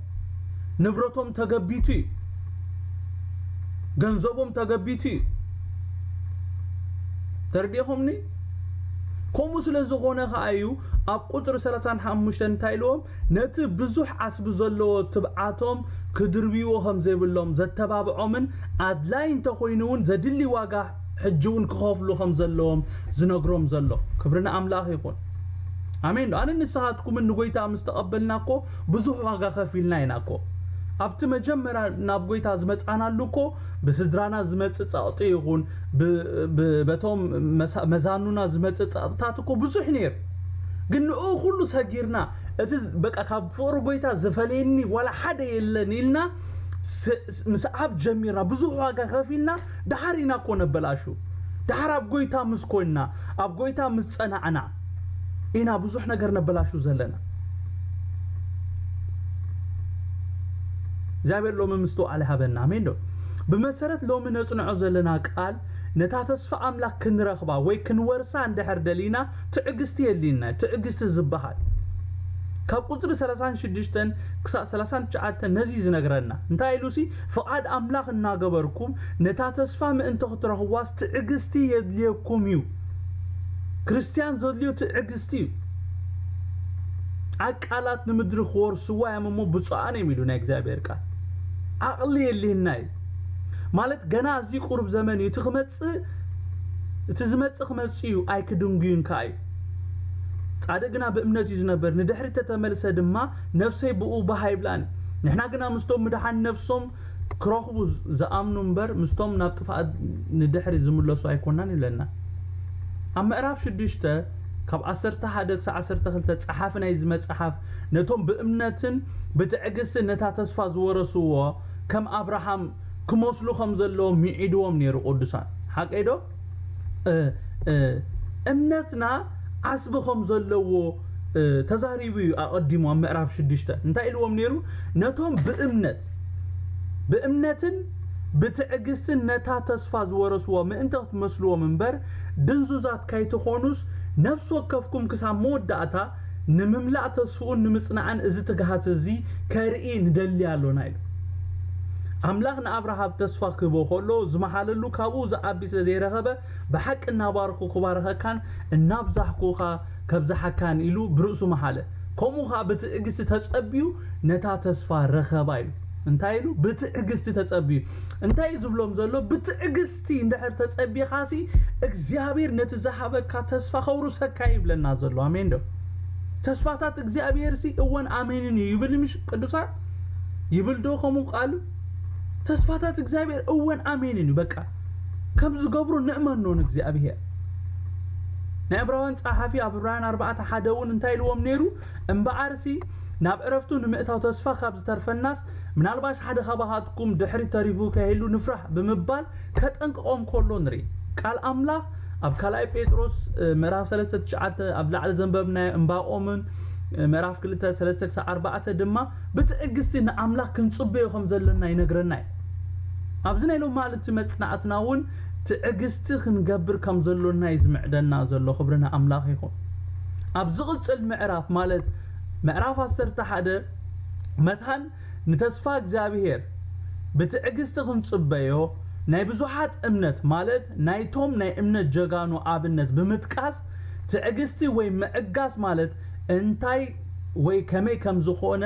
ንብረቶም ተገቢቱ እዩ ገንዘቦም ተገቢቱ እዩ ተርዲኹምኒ ከምኡ ስለ ዝኾነ ከዓ እዩ ኣብ ቁፅሪ ሰላሳን ሓሙሽተን እንታይ ኢልዎም ነቲ ብዙሕ ዓስቢ ዘለዎ ትብዓቶም ክድርብይዎ ከም ዘይብሎም ዘተባብዖምን ኣድላይ እንተኮይኑ እውን ዘድሊ ዋጋ ሕጂ እውን ክኸፍሉ ከም ዘለዎም ዝነግሮም ዘሎ ክብሪ ንኣምላኽ ይኹን ኣሜን ዶ ኣነ ንስኻትኩምን ንጎይታ ምስ ተቐበልና እኮ ብዙሕ ዋጋ ከፊልና ኢና እኮ ኣብቲ መጀመርያ ናብ ጎይታ ዝመጻናሉ እኮ ብስድራና ዝመጽእ ጸቕጢ ይኹን በቶም መዛኑና ዝመጽእ ጸቕጥታት እኮ ብዙሕ ነይሩ ግን ንኡ ኩሉ ሰጊርና እቲ በቃ ካብ ፍቕሪ ጎይታ ዝፈለየኒ ዋላ ሓደ የለን ኢልና ምስዓብ ጀሚርና ብዙሕ ዋጋ ከፊልና ድሓር ኢና እኮ ነበላሹ ድሓር ኣብ ጎይታ ምስ ኮንና ኣብ ጎይታ ምስ ጸናዕና ኢና ብዙሕ ነገር ነበላሹ ዘለና እግዚኣብሔር ሎሚ ምስትውዓል ይሃበና ኣሜን ዶ ብመሰረት ሎሚ ነጽንዖ ዘለና ቃል ነታ ተስፋ ኣምላክ ክንረኽባ ወይ ክንወርሳ እንድሕር ደሊና ትዕግስቲ የድልየና ትዕግስቲ ዝበሃል ካብ ቁፅሪ 36 ክሳብ 39 ነዚ ዝነግረና እንታይ ኢሉሲ ፍቓድ ኣምላኽ እናገበርኩም ነታ ተስፋ ምእንቲ ክትረኽቧስ ትዕግስቲ የድልየኩም እዩ ክርስትያን ዘድልዮ ትዕግስቲ እዩ። ዓቃላት ንምድሪ ክወርስዋ እዮም እሞ ብፁዓን እዮም ኢሉ ናይ እግዚኣብሔር ቃል። ዓቕሊ የድልየና እዩ ማለት ገና ኣዝዩ ቁሩብ ዘመን እዩ እቲ ክመጽእ እቲ ዝመጽእ ክመጽእ እዩ ኣይክድንጉዩን ከኣ እዩ። ጻድቅ ግና ብእምነት እዩ ዝነበር ንድሕሪት ተተመልሰ ድማ ነፍሰይ ብኡ ባህ ኣይብላን እዩ ንሕና ግና ምስቶም ምድሓን ነፍሶም ክረኽቡ ዝኣምኑ እምበር ምስቶም ናብ ጥፍኣት ንድሕሪ ዝምለሱ ኣይኮናን ይብለና። ኣብ ምዕራፍ ሽዱሽተ ካብ ዓሰርተ ሓደ ክሳዕ ዓሰርተ ክልተ ጸሓፊ ናይዚ መጽሓፍ ነቶም ብእምነትን ብትዕግስትን ነታ ተስፋ ዝወረስዎ ከም ኣብርሃም ክመስሉ ከም ዘለዎም ምዒድዎም ነይሩ ቅዱሳን ሓቀይዶ? እምነትና ዓስቢ ኸም ዘለዎ ተዛሪቡ እዩ ኣቐዲሙ ኣብ ምዕራፍ ሽዱሽተ እንታይ ኢልዎም ነይሩ ነቶም ብእምነት ብእምነትን ብትዕግስትን ነታ ተስፋ ዝወረስዎ ምእንቲ ክትመስልዎም እምበር ድንዙዛት ካይትኾኑስ ነፍሲ ወከፍኩም ክሳብ መወዳእታ ንምምላእ ተስፍኡን ንምጽናዕን እዚ ትግሃት እዚ ከርኢ ንደሊ ኣሎና ኢሉ። ኣምላኽ ንኣብርሃብ ተስፋ ክህቦ ከሎ ዝመሓለሉ ካብኡ ዝዓቢ ስለ ዘይረኸበ ብሓቂ እናባረኽኩ ክባርኸካን እናብዛሕኩ ኸኣ ከብዝሓካን ኢሉ ብርእሱ መሓለ። ከምኡ ኸኣ ብትዕግስቲ ተጸብዩ ነታ ተስፋ ረኸባ ኢሉ። እንታይ ኢሉ? ብትዕግስቲ ተጸብዩ። እንታይ እዩ ዝብሎም ዘሎ? ብትዕግስቲ! እስቲ እንድሕር ተጸቢኻሲ እግዚኣብሔር ነቲ ዝሃበካ ተስፋ ከውርሰካ እዩ ይብለና ዘሎ ኣሜን ዶ ተስፋታት እግዚኣብሔርሲ እወን ኣሜንን እዩ ይብል ምሽ ቅዱሳን ይብል ዶ ከምኡ ቃሉ ተስፋታት እግዚኣብሔር እወን ኣሜንን እዩ በቃ ከም ዝገብሩ ንእመኖ ንእግዚኣብሔር ናይ ዕብራውያን ጸሓፊ ኣብ ዕብራውያን ኣርባዕተ ሓደ እውን እንታይ ኢልዎም ነይሩ እምበኣርሲ ናብ ዕረፍቱ ንምእታው ተስፋ ካብ ዝተርፈናስ ምናልባሽ ሓደ ካባኻትኩም ድሕሪት ተሪፉ ከይህሉ ንፍራሕ ብምባል ከጠንቅቖም ከሎ ንርኢ። ቃል ኣምላኽ ኣብ ካልኣይ ጴጥሮስ ምዕራፍ ሰለስተ ትሽዓተ ኣብ ላዕሊ ዘንበብናዮ እምባቆምን ምዕራፍ ክልተ ሰለስተ ክሳብ ኣርባዕተ ድማ ብትዕግስቲ ንኣምላኽ ክንጽበዮ ከም ዘለና ይነግረና እዩ። ኣብዚ ናይ ሎማዕልቲ መጽናዕትና እውን ትዕግስቲ ክንገብር ከም ዘሎና እዩ ዝምዕደና ዘሎ። ክብሪ ንኣምላኽ ይኹን። ኣብ ዝቕጽል ምዕራፍ ማለት ምዕራፍ ዓሰርተ ሓደ መታን ንተስፋ እግዚኣብሄር ብትዕግስቲ ክንጽበዮ ናይ ብዙሓት እምነት ማለት ናይቶም ናይ እምነት ጀጋኑ ኣብነት ብምጥቃስ ትዕግስቲ ወይ ምዕጋስ ማለት እንታይ ወይ ከመይ ከምዝኾነ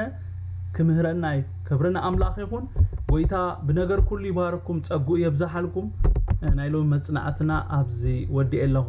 ክምህረና እዩ ክብሪ ንኣምላኽ ይኹን ጎይታ ብነገር ኩሉ ይባርኩም ጸግኡ የብዛሓልኩም ናይ ሎሚ መጽናዕትና ኣብዚ ወዲኤ ኣለኹ